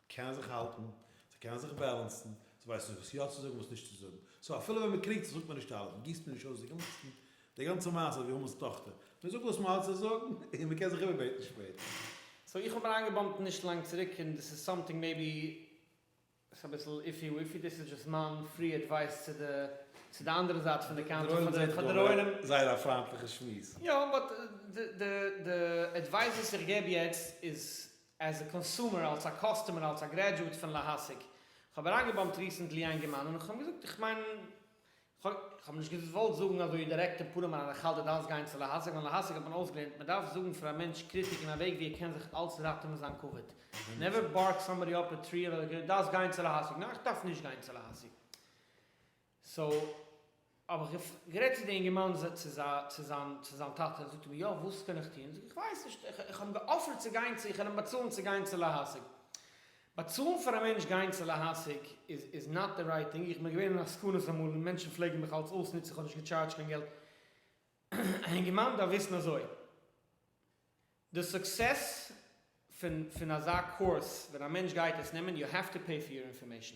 קענען זיך האלטן, זיי קענען זיך בעלענסן, זיי ווייסן וואס יא צו זאגן און וואס נישט צו זאגן. סאו אפילו ווען מען קריגט זיך זאגט מען נישט אלעס, מען גיסט מען נישט אויס די גאנצן די גאנצע מעשה ווי המן'ס טאכטער מען זאגט וואס מען האט צו זאגן און מען קען זיך איבערבעטן שפעטער. סאו איך האב אריינגעבאמפט נישט לאנג צוריק און דאס איז סאמטינג מעיבי ס'איז אביסל איפי וויפי דאס איז דשאסט מיין פרי אדווייס צו די צו די אנדערע זייט פון די קאנטרי פאר די פאר די רוינים. זייער א פריינטליכע שמועס. יא באט די די די אדווייס וואס איך געב יעצט איז עז א קאנסומער אלס א קאסטומער אלס א גרעדזשועט פון להשיג איך האב אריינגעבאמפט ריסענטלי איינגערמאן און איך האב אים געזאגט איך מיין כ'האב נישט געוואלט זאגן אזוי דירעקט אין פארעם אריין איך האלט דו דארפסט גיין צו להשיג ווייל להשיג האט מען אויסגעלערנט מען דארף זאגן פאר א מענטש קריטיק אין א וועג ווי ער קען זיך אלץ ראטעווען זיין כבוד נעווער בארק סאמבאדי אפ א טרי און זאג דארפסט גיין צו להשיג ניין איך דארף נישט גיין צו להשיג סאו האב איך גערעדט צו די אינגערמאן צו זיין צו זיין טאטע זאגט ער מיר יא וואס קען איך טון זאג איך איך ווייס נישט איך האב אים געאפערט צו גיין צו איך וועל אים באצאלן צו גיין צו להשיג באצאלן פאר א מענטש גיין צו להשיג איז איז נאט די רייט טינג, איך בין געווען אין עסקנות אמאל און מענטשן פלעגן מיך אלץ אויסנוצן, איך האב נישט געטשארדזשט קיין געלט, א הענגמאן דארף וויסן אזוי, די סוקסעס פון פון אזא קורס ווען א מענטש גייט עס נעמען, יו העוו טו פעי פאר יור אינפארמעישן.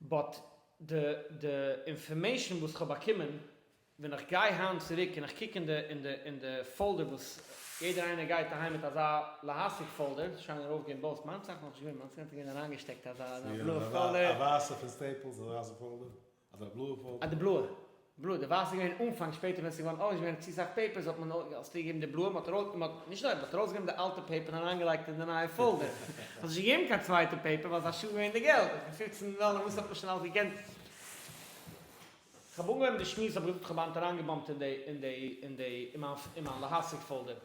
באט די די אינפארמעישן וואס כ'האב באקומען, ווען איך גיי היינט צוריק און איך קוק אין די אין די אין די פאלדער וואס יעדער איינער גייט אהיים מיט אזא להשיג פאלדער, ס'איז שוין ארויף געווען בויס, מיינס איז נאכנישט געווען, מיינס איז גאנץ געווען אריינגעשטעקט אזא אזא בלויע פאלדער. א ווייסע פון סטעיפלס אזא ווייסע פאלדער? אדער א בלויע פאלדער? א די בלויע. בלוי, די ווייסע איז געווען אנפאנג, שפעטער ווען עס איז געווארן אויך נישט געווען צו סאך פעיפערס האט מען אלס צוגעגעבן די בלויע, מען האט ארויס, מען האט, נישט נאר, מען האט ארויס גענומען די אלטע פעיפער און אריין געלייגט אין די נייע פאלדער, מען האט נישט געגעבן קיין צווייטע פעיפער ווייל עס איז א שאד געווען די געלט, און פון פופצן דאלער וואס האט מען שוין אלס געקענט. כ'האב אנגעהויבן די שמועס האב איך דארט כמעט אריין געבאמט אין די, אין די, אין די, אין מיין, אין מיין להשיג פאלדער.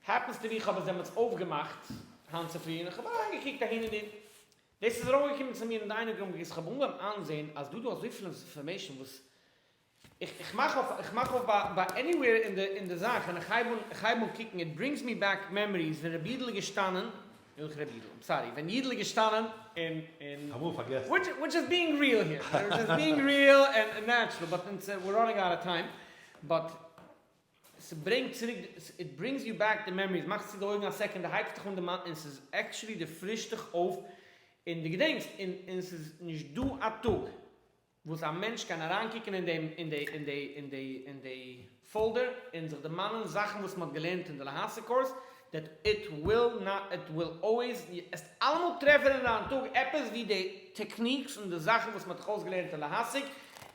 העפענס טו בי כ'האב עס דעמאלטס אויפגעמאכט היינט צופרי און כ'האב אריין געקוקט אהין און דארט. דאס איז ארויפגעקומען צו מיר אין דיינוג רום, איך האב אנגעהויבן איינזעהן אז דא דא אזויפיל אינפארמעישן וואס איך איך מאך אויף איך מאך אויף ביי ביי עניוועיר אין די אין די זאך און איך הייב אן איך הייב אן קוקן איט ברינגס מי בעק מעמאריס ווען רבי אידל איז געשטאנען וועלכע רבי אידל? איים סארי ווען אידל איז געשטאנען און און אמאל פארגעסן. וויטש וויטש איז בינג ריעל העיר וויטש איז בינג ריעל ענד נעטשרעל באט אונז ווער ראנינג אוט אוו טיים באט. ס'ברענגט צוריק די, איט ברינגס יו בעק די מעמאריס, מאכסט צו די אויגן א סעקאנד, די הייבסט דיך אן די מיינד, און ס'איז עקטשולי די פרישט דיך אויף און די געדענקסט, און און ס'איז נישט דא א טאג וואס א מענטש קען אריין קוקן אין דעם אין די אין די אין די אין די פאלדער און זיך דערמאנען זאכן וואס מ'האט געלערנט אין די להעשה קורס, דעט איט וויל נאט איט וויל אלוועיס, די עסט אלעמאל טרעפן אין דיין טאג עפעס ווי די טעקניקס און די זאכן וואס מען האט דיך אויסגעלערנט אין להשיג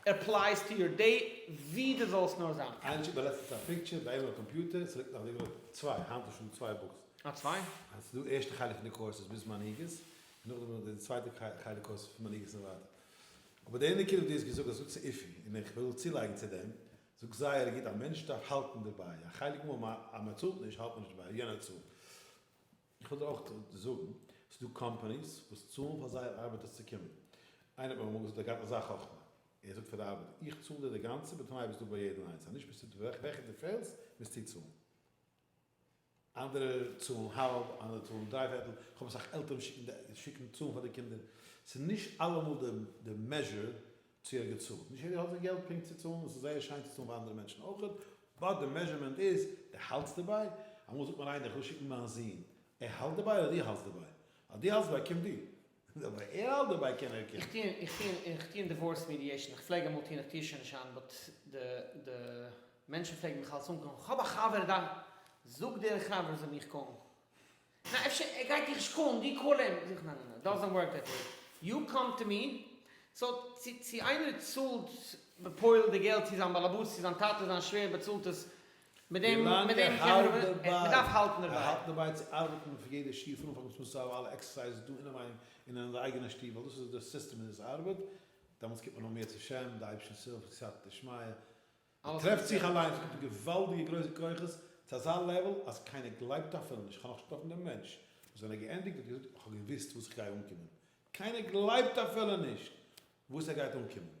עפלייס טו יור דעי ווי די זאלסט נאר זיין. איינער האט געשיקט א לעצטענס א פיקטשער ביי אים אויפן קאמפיוטער, ס'ליגט נאך די וואך צוויי, היינט איז שוין צוויי בוקס. אה צוויי? אז ס'איז דא ערשטע חלק פון די קורס איז ביז מנהיגות, און נאכדעם איז די צווייטע חלק קורס פון מנהיגות און ווייטער. אבער די אינער קינד האט דאס געזאגט, אז זאגט ס'איפי, און איך וויל צולייגן צו דעם, זאגסט זייער גוט, א מענטש דארף האלטן דערביי, א חלק מאל אז מען צאלט נישט האלט מען נישט דערביי, יענער צאלט. איך וויל דיר אויך זאגן, ס'איז דא קאמפאניס וואס צאלן פאר זייער ארבעטערס צו קומען. איינער האט מיר אמאל געזאגט ער האט געהאט אזא חכמה, ער זאגט פאר די ארבעטער, איך צאל דיר די גאנצע בתנאי ביסטו ביי יעדן איינס, אז נישט ביסטו וועלכע דו פעלסט מוזטו צאלן. אנדערע צאלן האלב, אנדערע צאלן דריי פערטל, כ'האב אסאך עלטערן וואס שיקן די שיקן צאלן פאר די קינדער, ס'איז נישט אלעמאל די די מעזשור צו ער האט געצאלט, נישט יעדער האט די געלט פונקט צו צאלן, עס איז זייער שיין צו צאלן פאר אנדערע מענטשן אויך, באט די מעזשורמענט איז, די האלטסט דערביי? אמאל זאגט מיר איינער איך וויל שיקן מיין זון, ער האלט דערביי אדער דו האלטסט דערביי? אז דו האלטסט דערביי קום דו, אבער ער האלט דערביי קען ער קען. איך טוה אין דיווארס מידיעישן, איך פלעג אמאל טוהן איך טוה שוין נישט היינט, באט די מענטשן פלעגן מיך אלס אנקאלן, כ'האב א חבר דא, זאג דער חבר זאל מיך קאלן, נא אפשר ער גייט דיך נישט קאלן, דו קאל אים, זאג איך נא נא נא, דאזענט ווארק דעט וועי, יו קאם טו מי, סאו צו איינער צאלט בפועל די געלט צו זיין באלעבאס, צו זיין טאטע, זיין שווער באצאלט עס, מיט דעם מען דארף האלטן דערביי. ער האלט דערביי צו ארבעטן אויף יעדע שיעור פון אנפאנג ביז צום סוף אויף אלע עקסערסייזעס דא אינעוויין און אין די אייגענע שטוב ווייל דאס איז די סיסטעם און דאס ארבעט דעמאלטס קומט מען נאך מער צו שם די אייבערשטענס הילף סייעתא דשמיא ער טרעפט זיך אליין עס קומט געוואלדיגע גרויסע כוחות צו אזא לעוועל אז קיינער גלייבט אפילו נישט כ'האב נאך נישט געטראפן דעם מענטש וואס ווען ער געענדיגט האט געזאגט כ'האב געוואוסט וואס כ'גיי אנקומען קיינער גלייבט אפילו נישט וואס ער גייט אנקומען.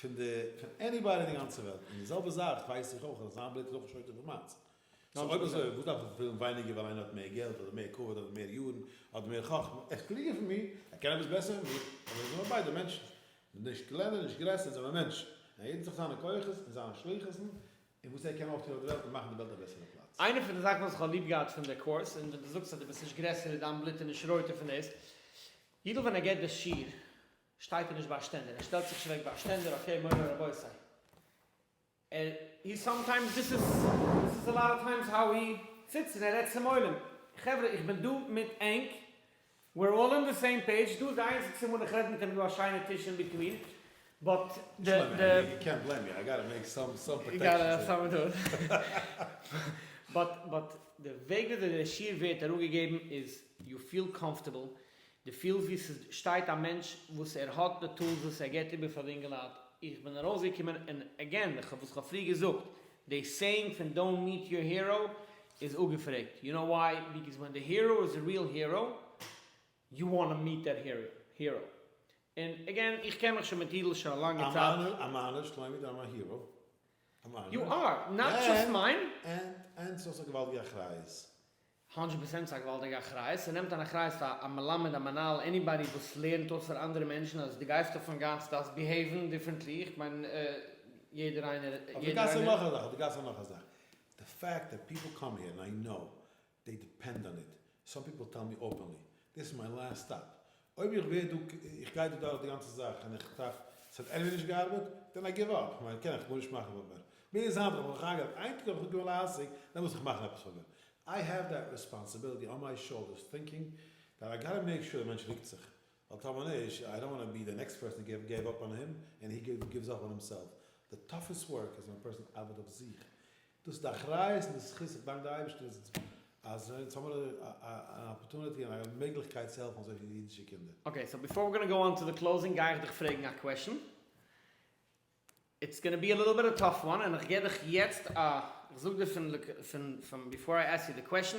פון די פון עניבאדי אין די גאנצע וועלט, און די זעלבע זאך ווייס איך אויך אז זיין בלוט איז אויך נישט יותר פון מיינס. סאו אויב אזוי וואס דארף איך ווילן ווייניגער ווייל איינער האט מער געלט אדער מער כבוד אדער מער יארן אדער מער חכמה, ער איז קלוגער פון מיר, ער קען עפעס בעסער פון מיר, אבער מיר זענען ביידע מענטשן, נישט קלענער נישט גרעסער, אונז זענען מענטשן, און יעדער האט זיך זיינע כוחות און זיינע שליחות'ן און וואס ער קען אויפטון אויף די וועלט און מאכן די וועלט א בעסערע פלאץ. איינע פון די זאכן וואס איך האב ליב געהאט פון די קורס און ווען די זאגסט אז די ביסט נישט גרעסער און דיין בלוט איז נישט רויטער פון דאס אידל ווען ער געט די שיעור שטייט ער נישט ביי א שטענדער, ער שטעלט זיך נישט אוועק ביי א שטענדער, אקעי מורי רבותי, ער איז סאמטיימס דיס איז דיס איז אלאט אוו טיימס האו הי זיצט און ער רעדט צום עולם, חברה איך בין דא מיט ענק, וויר אלל אן די סעים פעידזש, דא איז די איינציגסטע מאל איך רעד מיט אים דא א שיינע טיש אין ביטווין, באט די די. יו קענט בלעים מי, איי גאטע מעיק סאם סאם פראטעקשענס. באט די וועג וויאזוי די שיעור ווערט אראפגעגעבן איז יו פיל קאמפארטעבל די פילסט ווי סשטייט א מענטש וואס ער האט די טולס וואס ער געט איבער פאר די אינגעלייט, איך בין ארויסגעקומען און עגעין די וואס כ'האב פריער געזאגט די סעיאינג פון דאונט מיט יור הירא איז אפגעפרעגט יו נאו וויי ביקאוז ווען די הירא איז א ריעל הירא יו וואנט מיט דעט הירא און עגעין איך קען מיך שוין מיט אידל שוין א לאנגע צייט. א מיינער שלומי דאם א הירא א מיינער און און סאיז א געוואלדיגע אחריות הונדרעט פראצענט ס'איז א געוואלדיגע אחריות, ס'נעמט אן אחריות פאר א מלמד, א מנהל, עניבאדי וואס לערנט אויס פאר אנדערע מענטשן אז דו גייסט אויפן גאס דארפסט ביהעיוון דיפרענטלי, איך מיין יעדער איינער, אויף די גאס איז נאך א זאך, אויף די גאס איז נאך א זאך, די פעקט דעט פיפל קאם העיר און איי קנאו דעי דיפענד אן איט, סאם פיפל טעל מי אפענלי, דיס איז מיי לאסט סטאפ, אויב איך ווער דא, איך גיי דא דורך די גאנצע זאך און איך טרעף עס האט עניוועי נישט געארבעט, דען איי גיוו אפ, כ'מיין, כ'קען עכ פ נישט מאכן פאר מיר. מיר איז היינט נאך אויך אייגענע, איין טאג האב איך געוואונען א עסק, דען מוז איך מאכן עפעס פאר מיר. איי העוו דעט רעספאנסיביליטי אן מיי שאולדערס טינקינג דעט איי גאטע מעיק שור די מענטש ריקט זיך, ווייל טאמער נישט, איי דאנט וואנט טו בי די נעקסט פערסאן וואס געב אפ אן אים, און הי גיווס אפ אן הימסעלף. די טאפעסט ווארק איז ווען א פערסאן ארבעט אויף זיך, דאס איז די אחריות און די זכות, איך דאנק די אייבערשטער אז אונז האמיר אן אפערטוניטי און א מעגליכקייט צו העלפן אזויפיל אידישע קינדער. אקעי, סאו ביפאר ווי גאנא גאו אן טו די קלאוזינג גיי איך דיך פרעגן א קוועשן, איטס גאנא בי א ליטעל ביט א טאף וואן, און איך גיב דיך יעצט א, איך זאג דיר פון, פון, פון ביפאר איי עסק יו די קוועשן,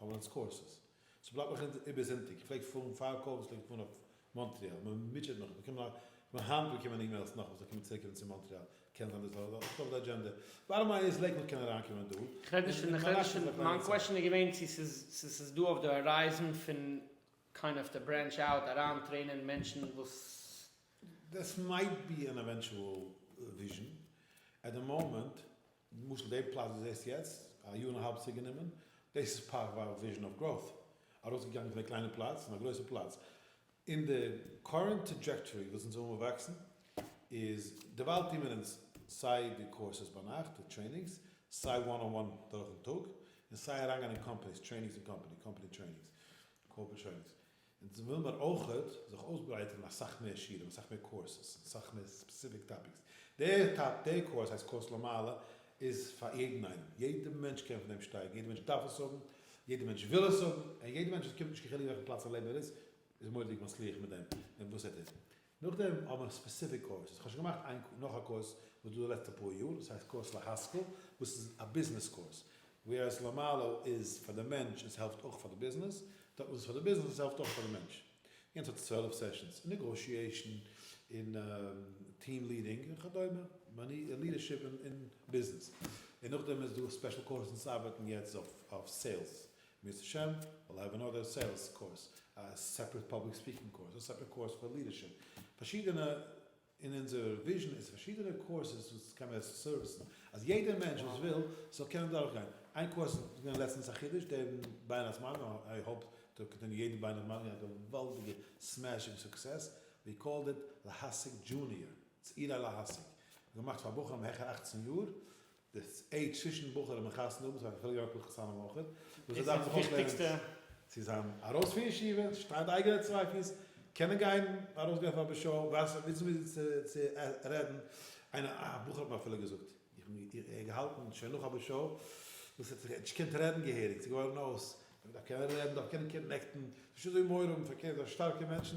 האבן אונז קורסעס. סאו בלייבט נאך אונז איבער זונטאג. איך פלעג פארן פאר קאוועס פלעג איך פארן אויף מאנטריאל. מען מוטשעט מיך. איך באקום נאך היינט באקומען אימעילס נאך וואס זיי קומען צוריק ארום צו מאנטריאל. קען זיין דאס איז אויך אויף די אדזשענדע. באטטאם ליין איז לעיקוואד קען אריינקומען דא. איך רעד נישט פון די. מיין קוועשן איז געווען צו ס'איז דא אויף די הארייזן פון קיין אויף די ברענטש אוט אריין טרעינען מענטשן וואס. דעס מייט בי אן עווענטואל וויזשן. עט די מאמענט. למשל די פלאץ ווי זעסט יעצט, א יאר און א האלב צוריק גענומען, דאס איז פארט פאר וויזשען אוו גראוט, ארויסגעגאנגען פון די קליינע פלאץ און א גרויסע פלאץ, און די קארענט טראדזשעקטארי וואס אונז האבן באוואקסן איז, דערווייל טוהן מיר אונז סיי די קורסעס ביינאכט, די טרעינינגס, סיי וואן אן וואן דורכן טאג, און סיי אריינגיין אין קאמפעניס, טרעינינגס אין קאמפעני, קאמפעני טרעינינגס, קארפערעט טרעינינגס, אונז וויל מיר אויכעט זיך אויסברייטערן אסאך מער שיעורים, אסאך מער קורסעס, און אסאך מער ספעסיפיק טאפיקס. דער טאפ דער קורס הייסט קורס למעלה איז פאר יעדן איינעם. יעדער מענטש קען פון דעם שטייגן, יעדער מענטש דארף עס האבן, יעדער מענטש וויל עס האבן, און יעדער מענטש עס קומט נישט קיין חילוק וועלכע פלאץ אין לעבן ער איז, איז מורא'דיג מצליח מיט דעם, מיט וואס ער טוט. נאכדעם האבן מיר ספעסיפיק קאורסעס, כ'האב שוין געמאכט איין נאך א קורס וואס איז דא די לעצטע פאר יאר, דאס הייסט קורס להשכיל, וואס איז א ביזנעס קורס, ווער עס למעלה איז פאר די מענטש און עס העלפט אויך פאר די ביזנעס, דארט וואס איז פאר די ביזנעס און עס העלפט אויך פאר די מענטש. יענץ האט צוועלף סעשאנס, אין נעגאושיעישן, אין טיעם ליעדינג און כדומה, ליעדערשיפ אין ביזנעס, און נאכדעם איז דא ספעשל קורסעס ארבעטן יעצט אויף סעילס, בעזהשם וויל האב אנאדער סעילס קורס, א סעפרעט פאבליק ספיקינג קורס, א סעפרעט קורס פאר לידערשיפ, פארשידענע, אין אונזער וויזשען איז פארשידענע קורסעס וואס קען מען סערוויסן אז יעדער מענטש וואס וויל זאל קענען דורכגיין, איין קורס איז געווען לעצטענס א חידוש דעם בין הזמנים, איי האופ טו קאנטינעו יעדן בין הזמנים א געוואלדיגע סמעשינג סוקסעס, ווי קאלד איט להשיג דזשוניער, צעירה להשיג, געמאכט פאר בחורים העכער אַכצן יאר, די עידזש צווישן בחורים און חתונה האבן, ס'איז א חילוק אויף הלכות חתונה מאכער, וואס ער דארף זיך אויך לערנען צו זיין ארויס פון ישיבה, שטיין אויף אייגענע צוויי פיס, קענען גיין ארויסגיין פאר בשו, ווייסן וויאזוי מיט זיי צו רעדן, איינער א בחור האט מיר אפילו געזאגט, איך האב מיר געהאלטן שוין נאך א בשו, דאס האט זיך נישט געקענט רעדן געהעריג, ס'איז געווארן אויס, מען דארף קענען רעדן, מען דארף קענען קאנעקטן, נישט אזוי מורם פארקערט זיין שטארקע מענטשן,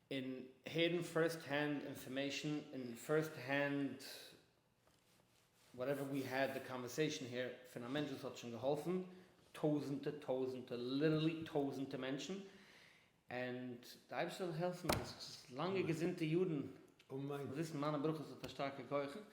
און הערן פירסט הענד אינפארמעישן און פירסט הענד וואטעווער ווי העד די קאנווערסעישן העיר פון א מענטש וואס האט שוין געהאלפן טויזענטע טויזענטע ליטערלי טויזענטע מענטשן און די אייבערשטער זאל העלפן אז לאנגע געזונטע יארן זאל וויסן מיינע ברכות האט א שטארקע כח.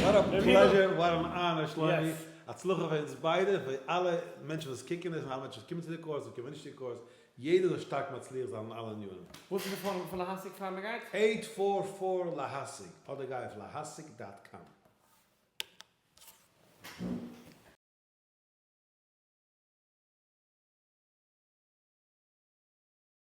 וואט א פלעזשער, וואט אן אנער, שלומי, הצלחה פאר אונז ביידע, פאר אלע מענטשן וואס קוקן עס, און אלע מענטשן וואס קומען צו די קורס, און קומען נישט צו די קורס, יעדער זאל שטארק מצליח זיין אין אלע ענינים. וואס איז די פארום פון להשיג פאר מען גייט? אייט פאר פאר להשיג, אדער גיי אויף להשיג דאט קאם.